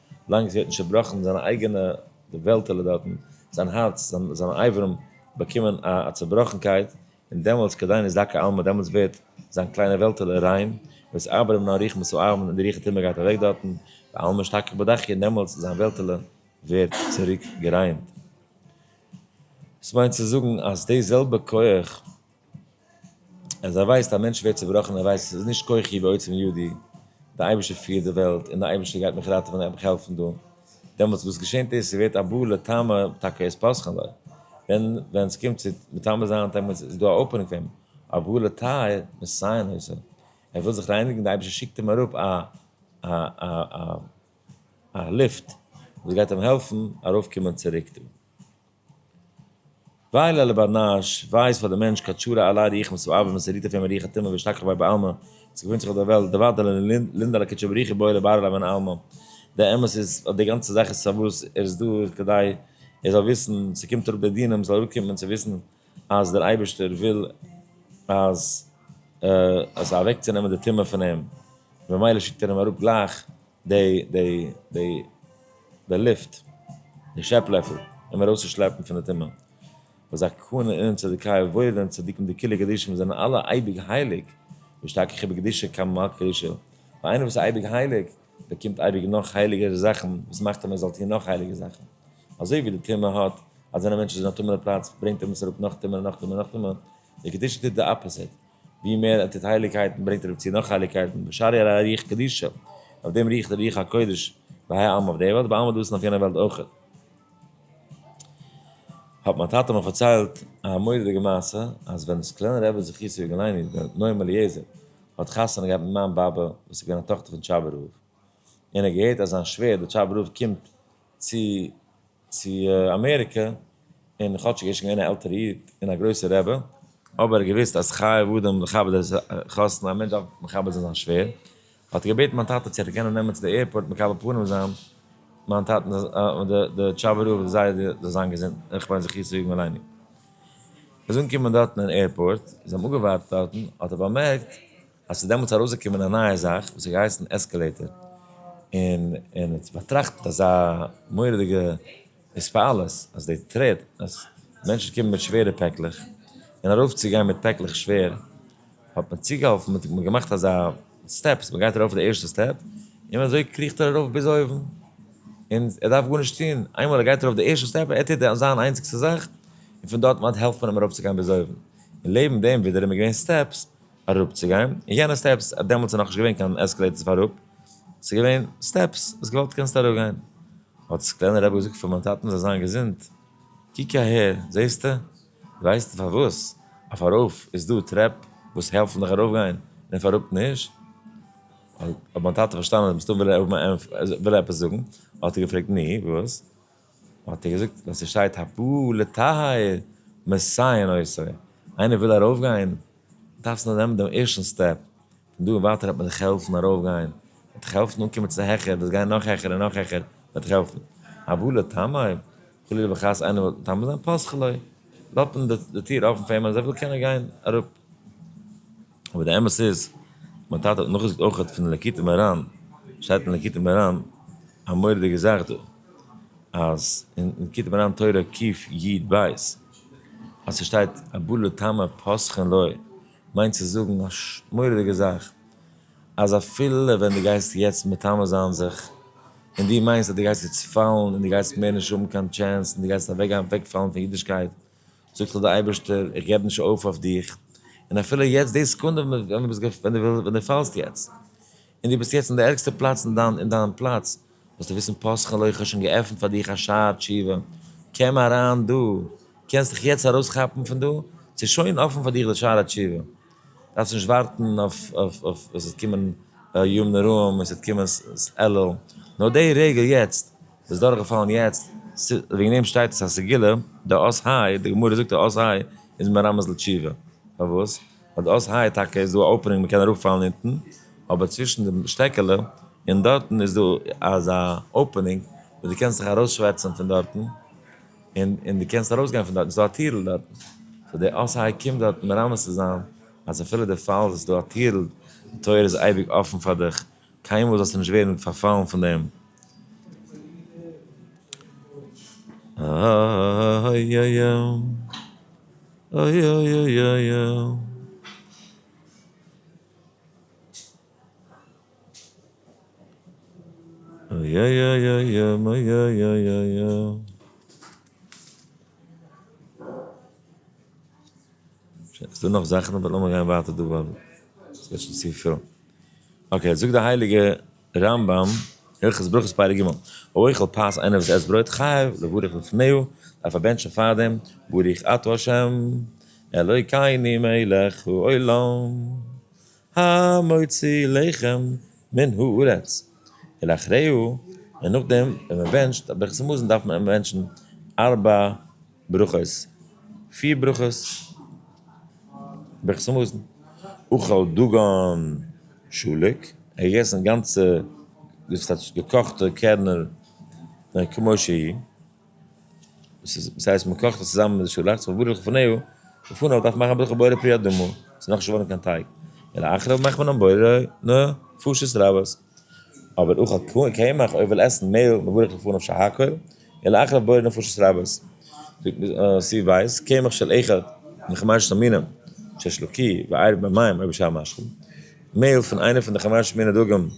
לאנג זי האט נישט צובראכן זיין אייגענע וועלטעלע דארטן, זיין הארץ, זיין אברים באקומען א צובראכנקייט, און דעמאלטס כדי נישט דקה עלמא דעמאלטס ווערט זיין קליינע וועלטעלע ריין, וואס אברים נאר ריחמ עשו אהרן און די רוח הטומאה גייט אוועק דארטן, ואל משתכח בדחי און דעמאלטס זיין וועלטעלע ווערט צוריק געריינט. דאס מיינט צו זאגן אז די זעלבע כח. אז ער ווייסט א מענטש ווערט צובראכן ער ווייסט ס'איז נישט כוחי ועוצם ידי די אייבערשטער פירט די וועלט און די אייבערשטער גייט מיך ראטעווען און מיך העלפן דא דעמאלטס וואס געשענט איז ס'ווערט א בא לטעמא טאקע איז פסח'ן לוי ווען ווען ס'קומט צו מטמא זיין דעמאלטס איז דא א אופענונג פאר אים א בא לטהר מסיין עשה ער וויל זיך רייניגן די אייבערשטער שיקט אים אראפ א א א א א ליפט וואס גייט אים העלפן ארויף קומען צוריק דא. ווייל אל באנאש ווייזט פאר די מענטש קאטשארע א ליי ריח מסב אב מסריט אויף אים א ריח הטומאה והשתכח ביי בעלמא וואס געפונט זיך אויף דער וועלט די ווייטעלע לינדעלע קוטשער בריחי בורא באר אליי בין עלמא די אמת איז אז די גאנצע זאך איז פארוואס ער איז דא איז כדי ער זאל וויסן ס'קומט אראפ די דינים זאל אראפ קומען צו וויסן אז דער אייבערשטער וויל אז אז אוועק צו נעמען די טומאה פון אים ממילא שיקט ער אים אראפ גלייך די די די די ליפט די שעפ לעפל אים ארויס צו שלעפן פון די טומאה וואס א כהן און צדקאי וואוילען צדיקים די כלי קדשים וואס זענען אלע אייביג הייליג משתכח ובקדושה כמה מלכות קדושה ווייל איינער וואס איז אייביג הייליג באקומט אייביג נאך הייליגערע זאכן וואס מאכט אים ער זאל טון נאך הייליגע זאכן אזוי ווי די טומאה האט אז ווען א מענטש איז אין א טמא'נע פלאץ ברענגט אים עס אראפ נאך טומאה נאך טומאה נאך טומאה די קדושה טוט די אפעסיט ווי מער ער טוט הייליגקייטן ברענגט ער אויף צו נאך הייליגקייטן, בשערי אל הרוח קדישא, אויף דעם ריעכט דער רוח הקודש בהאי עלמא אויף דער וועלט, בעלמא דאס און אויף יענער וועלט אויך. האט מיין טאטע מיך פארציילט א מורא'דיגע מעשה, אז ווען סקלענער רבי זכותו יגן עלינו, דער נועם אליעזר, האט חתונה געהאט מיט מיין באבע וואס איז געווען א טאכטער פון טשאבער רב, און ער האט געהערט אז זיין שווער דער טשאבער רב קומט צו צו אמעריקע, און כאטשיג ער איז שוין געווען א עלטערע איד און א גרויסע רבי, אבער ער האט געוואוסט אז חייב אדם לכבד את החתן, א מענטש דארף מכבד זיין זיין שווער, האט ער געבעטן מיין טאטע צו ער קען אים נעמען צו די עירפארט מקבל פנים זיין מיין טאטן די טשאבע רב זי ע זאל זיין געזונט און כ'מיין זיך יצא יגון עלינו. ער איז אנגעקומען דארטן אין עירפארט, זיי האבן אפגעווארט דארטן, האט ער באמערקט, אז ס'איז דעמאלטס ארויסגעקומען א נייע זאך וואס האט געהייסן עסקעלעיטער, און און האט באטראכט מיט אזא מורא'דיגע התפעלות אז די טרעט אז מענטשן קומען מיט שווערע פעקלעך, און ארויפצוגיין מיט פעקלעך שווער, האט מען צוגעהאלפן, מען האט געמאכט אזא סטעפס, מען גייט ארויף די ערשטע סטעפ, און אזוי קריכט ער ארויף ביז אויבן, און ער דארף גארנישט טון, איינמאל ער גייט ארויף די ערשטע סטעפ, ער טוט די זיין איינציגסטע זאך, און פון דארט אווענט העלפט מען אים ארויפצוגיין ביז אויבן, און לעבן דעם ווידעראום איז געווען סטעפס, אראפצוגיין און יענע סטעפס, דעמאלטס איז נאכנישט געווען קיין עסקעלעיטערס פאר אראפ, ס'איז געווען סטעפס, האסט געוואלט קענסטו אראפגיין. האט דאס קליינע רעבעלע געזאגט פאר מיין טאטן זאל זיין געזונט, קוק אהער, זעסטו? דו ווייסט פארוואס אויף ארויף איז דא טרעפ וואס העלפן דיך ארויפגיין און אויף אראפ נישט? האט מיין טאטע פארשטאנען אז מסתם וויל ער האבן א ענטפער, וויל ער עפעס זאגן, האט ער געפרעגט, נו, וואס? האט ער געזאגט ווען ס'שטייט הבא לטהר מסייעין עושה, איינער וויל ארויפגיין דארפסטו נאר נעמען דעם ערשטן סטעפ, פון דא און ווייטער וועט מען דיך העלפן ארויפגיין, מען וועט דיך העלפן אנקומען צו העכער, וועסט גיין נאך העכער און נאך העכער, מען וועט דיך העלפן. הבא לטהר, חלילה וחס איינער וויל מטמא זיין פסח'לע, לאט מען די טיר אפן פאר אים אז ער וויל קען ער גיין אראפ. אבער די אמת איז, מיין טאטע האט נאכגעזאגט אויכעט פון ליקוטי מוהראן, שטייט אין ליקוטי מוהראן א מורא'דיגע זאך דא, אז אין ליקוטי מוהראן תורה ק י ב, אז ס'שטייט הבא לטמא פסחין לו, מיינט צו זאגן א מורא'דיגע זאך, אז אפילו ווען דו גייסט יעצט מטמא זיין זיך, און דו מיינסט אז דו גייסט יעצט פאלן און דו גייסט מער נישט האבן קיין טשענס און דו גייסט אוועקגיין אוועקפאלן פון אידישקייט, זאגט זיך דער אייבערשטער, איך געב נישט אויף אויף דיך, און אפילו יעצט די סעקונדע ווען דו פאלסט יעצט, און דו ביסט יעצט אין די ערגסטע פלאץ אין דיין פלאץ, זאלסטו וויסן פסח'לע, איך האב שוין געעפנט פאר דיך א שער תשובה, קום אריין דא, קענסט דיך יעצט ארויסכאפן פון דא, ס'איז שוין אפן פאר דיך די שער התשובה. דארפסט נישט ווארטן אויף עס וועט קומען ימים נוראים און עס וועט קומען אלול, נאר די רגע יעצט, ביסט דורכגעפאלן יעצט, וועגן דעם שטייט עס א סגולה, די אות ה', די גמרא זאגט די אות ה' איז מרמז לתשובה, פארוואס? ווייל די אות ה' טאקע איז דא א אפענונג מען קען אראפפאלן אונטן, אבער צווישן די שטעקעלע און דארטן איז דא אזא אפענונג וואס דו קענסט זיך ארויסשווערצן פון דארטן, און און דו קענסט ארויס גיין פון דארטן, ס'דא א טירל דארטן, סאו דער אס ה קומט דארטן מרמז צו זיין אז אפילו דו פאלסט איז דא א טירל, די טויער איז אייביג אפן פאר דיך, קיינמאל זאלסטו נישט ווערן פארפאלן פון דעם. ס'דא נאך זאכן אבער לאמיר גיין ווייטער דא ווייל ס'ווערט שוין צופיל. אקעי זאגט די הייליגע רמב ם, הלכות ברכות פרק ג', האוכל פת איינער וואס עסט ברויט חייב לברך לפניו, דארף ער בענטשן פארדעם ברוך אתה ה' אלוקינו מלך העולם, המוציא לחם מן הארץ ולאחריהו, און נאכדעם ווען מען בענטשט א ברכת המזון דארף מען בענטשן ארבע ברכות, פיר ברכות ברכת המזון, אכל דגן שלוק, ער האט געגעסן גאנצע געקאכטע קערנער כמו שהי'. וואס הייסט מען קאכט עס צוזאמען מיט די שאלאכץ פון ברוך לפניו, לפניו דארף מען מאכן ברוך הבורא פרי אדמה, ס'איז נאכנישט געווארן קיין טייג, ולאחריו מאכט מען המבורא, נו, פשטות רבות. אבער אוכל קמח, אויב איך וויל עסן מעהל, מברך לפניו שהכל, ולאחריו בורא נו פשטות רבות. סי' ווייס, קמח של אחד מחמשת המינים, שש לו כי, ועירב במים אויב בשעה משכים, מעהל פון איינע פון די חמשת מיני דגים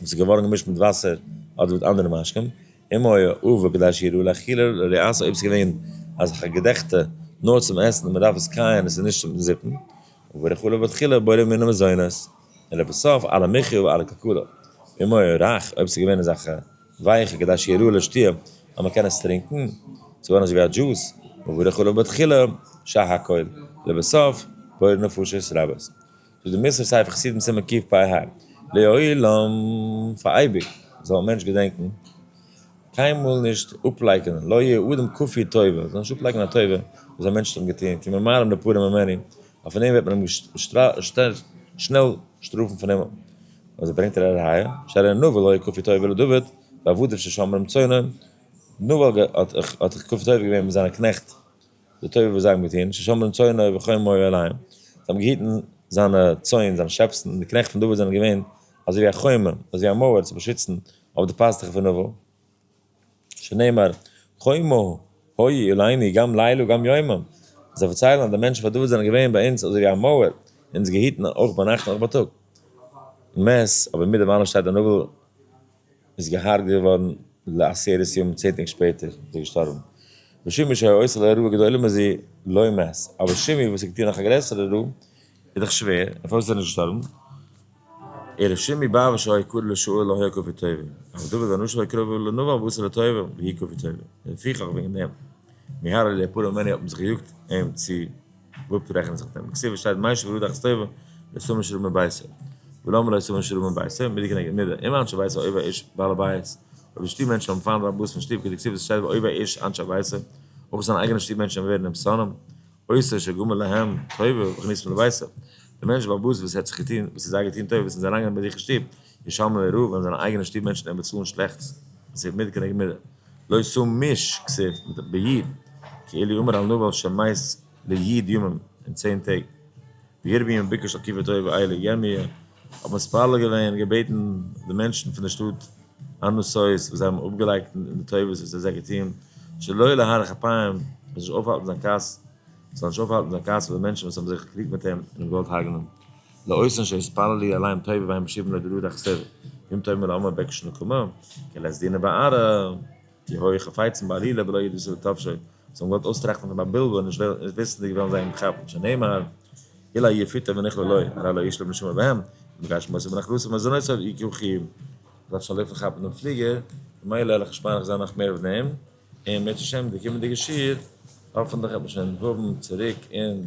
וואס איז געווארן געמישט מיט וואסער אדער מיט אנדערע משקים, אם היה עובר כדי שיראו לאכילה לא לעשות אויב ס'איז געווען אז כ'געדעכטע נאר צום עסן און מ'דארף עס קייען און ס'איז נישט צום זיפן, וברכו לו בתחילה בורא ממנו מזונות, און לבסוף על המחיה ועל הכלכלה, אם היה רך אויב ס'איז געווען אזעלכע ווייעכע כדי שיראו לשתייה אז מ'קען עס טרינקן, ס'איז געווארן אזויווי א דזשוס, וברכו לו בתחילה, שעה הכל, לבסוף בורא נפשות רבות. איז די מוסר ספר חסידים סימן קפ פ ה, לעולם, פאר אייביג, זאל א מענטש געדענקן, קיינמאל נישט אפלייקענען, לא יהיה אדם כפוי טובה, זאל נישט אפלייקענען א טובה וואס א מענטש האט אים געטון, כי ממרם לפורע ממני, ווייל פון דעם וועט מען אים שנעל שטראפן פון אים, אזוי ברענגט ער א ראיה, שהרי נבל היה כפוי טובה לדוד בעבדיו ששמר עם צאנו, נבל האט כפוי טובה געווען מיט זיינע קנעכט. די טויבער וואס זיי האבן געטון, ששמרן צאנו וחומו עליהם, זיי האבן געהיטן זיינע צאן, זיינע שעפסן, און די קנעכט פון דוד זענען געווען אזוי ווי א חומה, אזוי ווי א מויער צו באשיצן אויף די פאסטוכן פון נבל, שנאמר חומו היה אלינו גם לילה וגם יומם, זיי פארציילן אז די מענטשן פון דוד זענען געווען ביי אונז אזוי ווי א מויער, אונז געהיטן אויך ביינאכט און אויך בייטאג. מ ס, אבער מיט דעם אלעם שטייט די נבל. איז געהרגעט געווארן לעשרת ימים צען טעג שפעטער איז ער געשטארבן, ושימי שהיה עושה לה רעה גדולה מזו לא מת, אבער שימי וואס האט געטון נאך א גרעסערע רעה איז דאך שווער, דערפאר איז ער נישט געשטארבן, און ר' שימי ב ו שהיה קרוב לשאול לא היה כפי טובה, אבער דוד הנ ש היה קרוב לנבון וואס איז לטובה והיא כפי טובה, און לפיכך וועגן דעם מיהר אלי הפרא מני האט מען זיך געיאגט אים צו גוט רעכענט זיך דעם כסדר שטייט מי שברו דאכס טובה לא שמים שרוב מביתו ולמה לא שמים שרוב מביתו מידה כנגד מידה אם אנשי ביתו אויב א איש בעל הבית אויב די שטוב מענטשן האבן פיין רבוס פון שטוב כדי כסדר שטייט ואויב א איש אנשי ביתו אויב אויך זיינע אייגענע שטוב מענטשן ווערן אים שונאים עושה שגמר להם טובה וכניסתם לביתו דער מענטש באבוס וואס ער האט זיך געטון וואס איז זיי געטון טובה וואס זיי אריינגענומען ביי זיך אין שטוב ישמעאל און ראובן זענען אייגענע שטוב מענטשן און באצאלן שלעכטס כסף מיד כנגד מידה, לא שא מיש כסף ביד, כאילו אמר אל נבל שמעית ליד ימים, אין צען טעג, וירמי' און ביקש על קברי תועבה אלה, ירמי' האט מתפלל געווען און געבעטן די מענטשן פון די שטאט אנוסאוס וואס זיי האבן אפגעלייגט אין די טובות וואס ער האט זיי געטון, שלא להאריך אפיים, ער זאל נישט אויפהאלטן זיין כעס, עס זאל נישט אויפהאלטן זיין כעס אויף די מענטשן וואס האבן זיך געקריגט מיט אים און אים געוואלט הרג'נען. לאויסן שהתפלל לי אליין טובה וה' משיב לו דרור דכסדר ואם טוב מלא עמו בקש נקמה כ ל עס דינא בערא כי הוי חפצן בעלילה ולא ידעו שזה טפשו זיי האבן געוואלט אויסטראכטן פון א בלבול נישט וויסנדיג וועלן זיי אים כאפן שנאמר אילא יפיתא ונכלא לוי הרי לא ישלם נשמה בהם ובגשמותיו ונחלתו ומזונותיו יקום חיים ער דארף שוין לויפן כאפן דעם פליגער ממילא וועל איך נישט מאריך זיין נאך מער אויף דעם און בעזהשי ת די קומענדיגע שיעור האפענטליך וועט מען שוין האבן צוריק און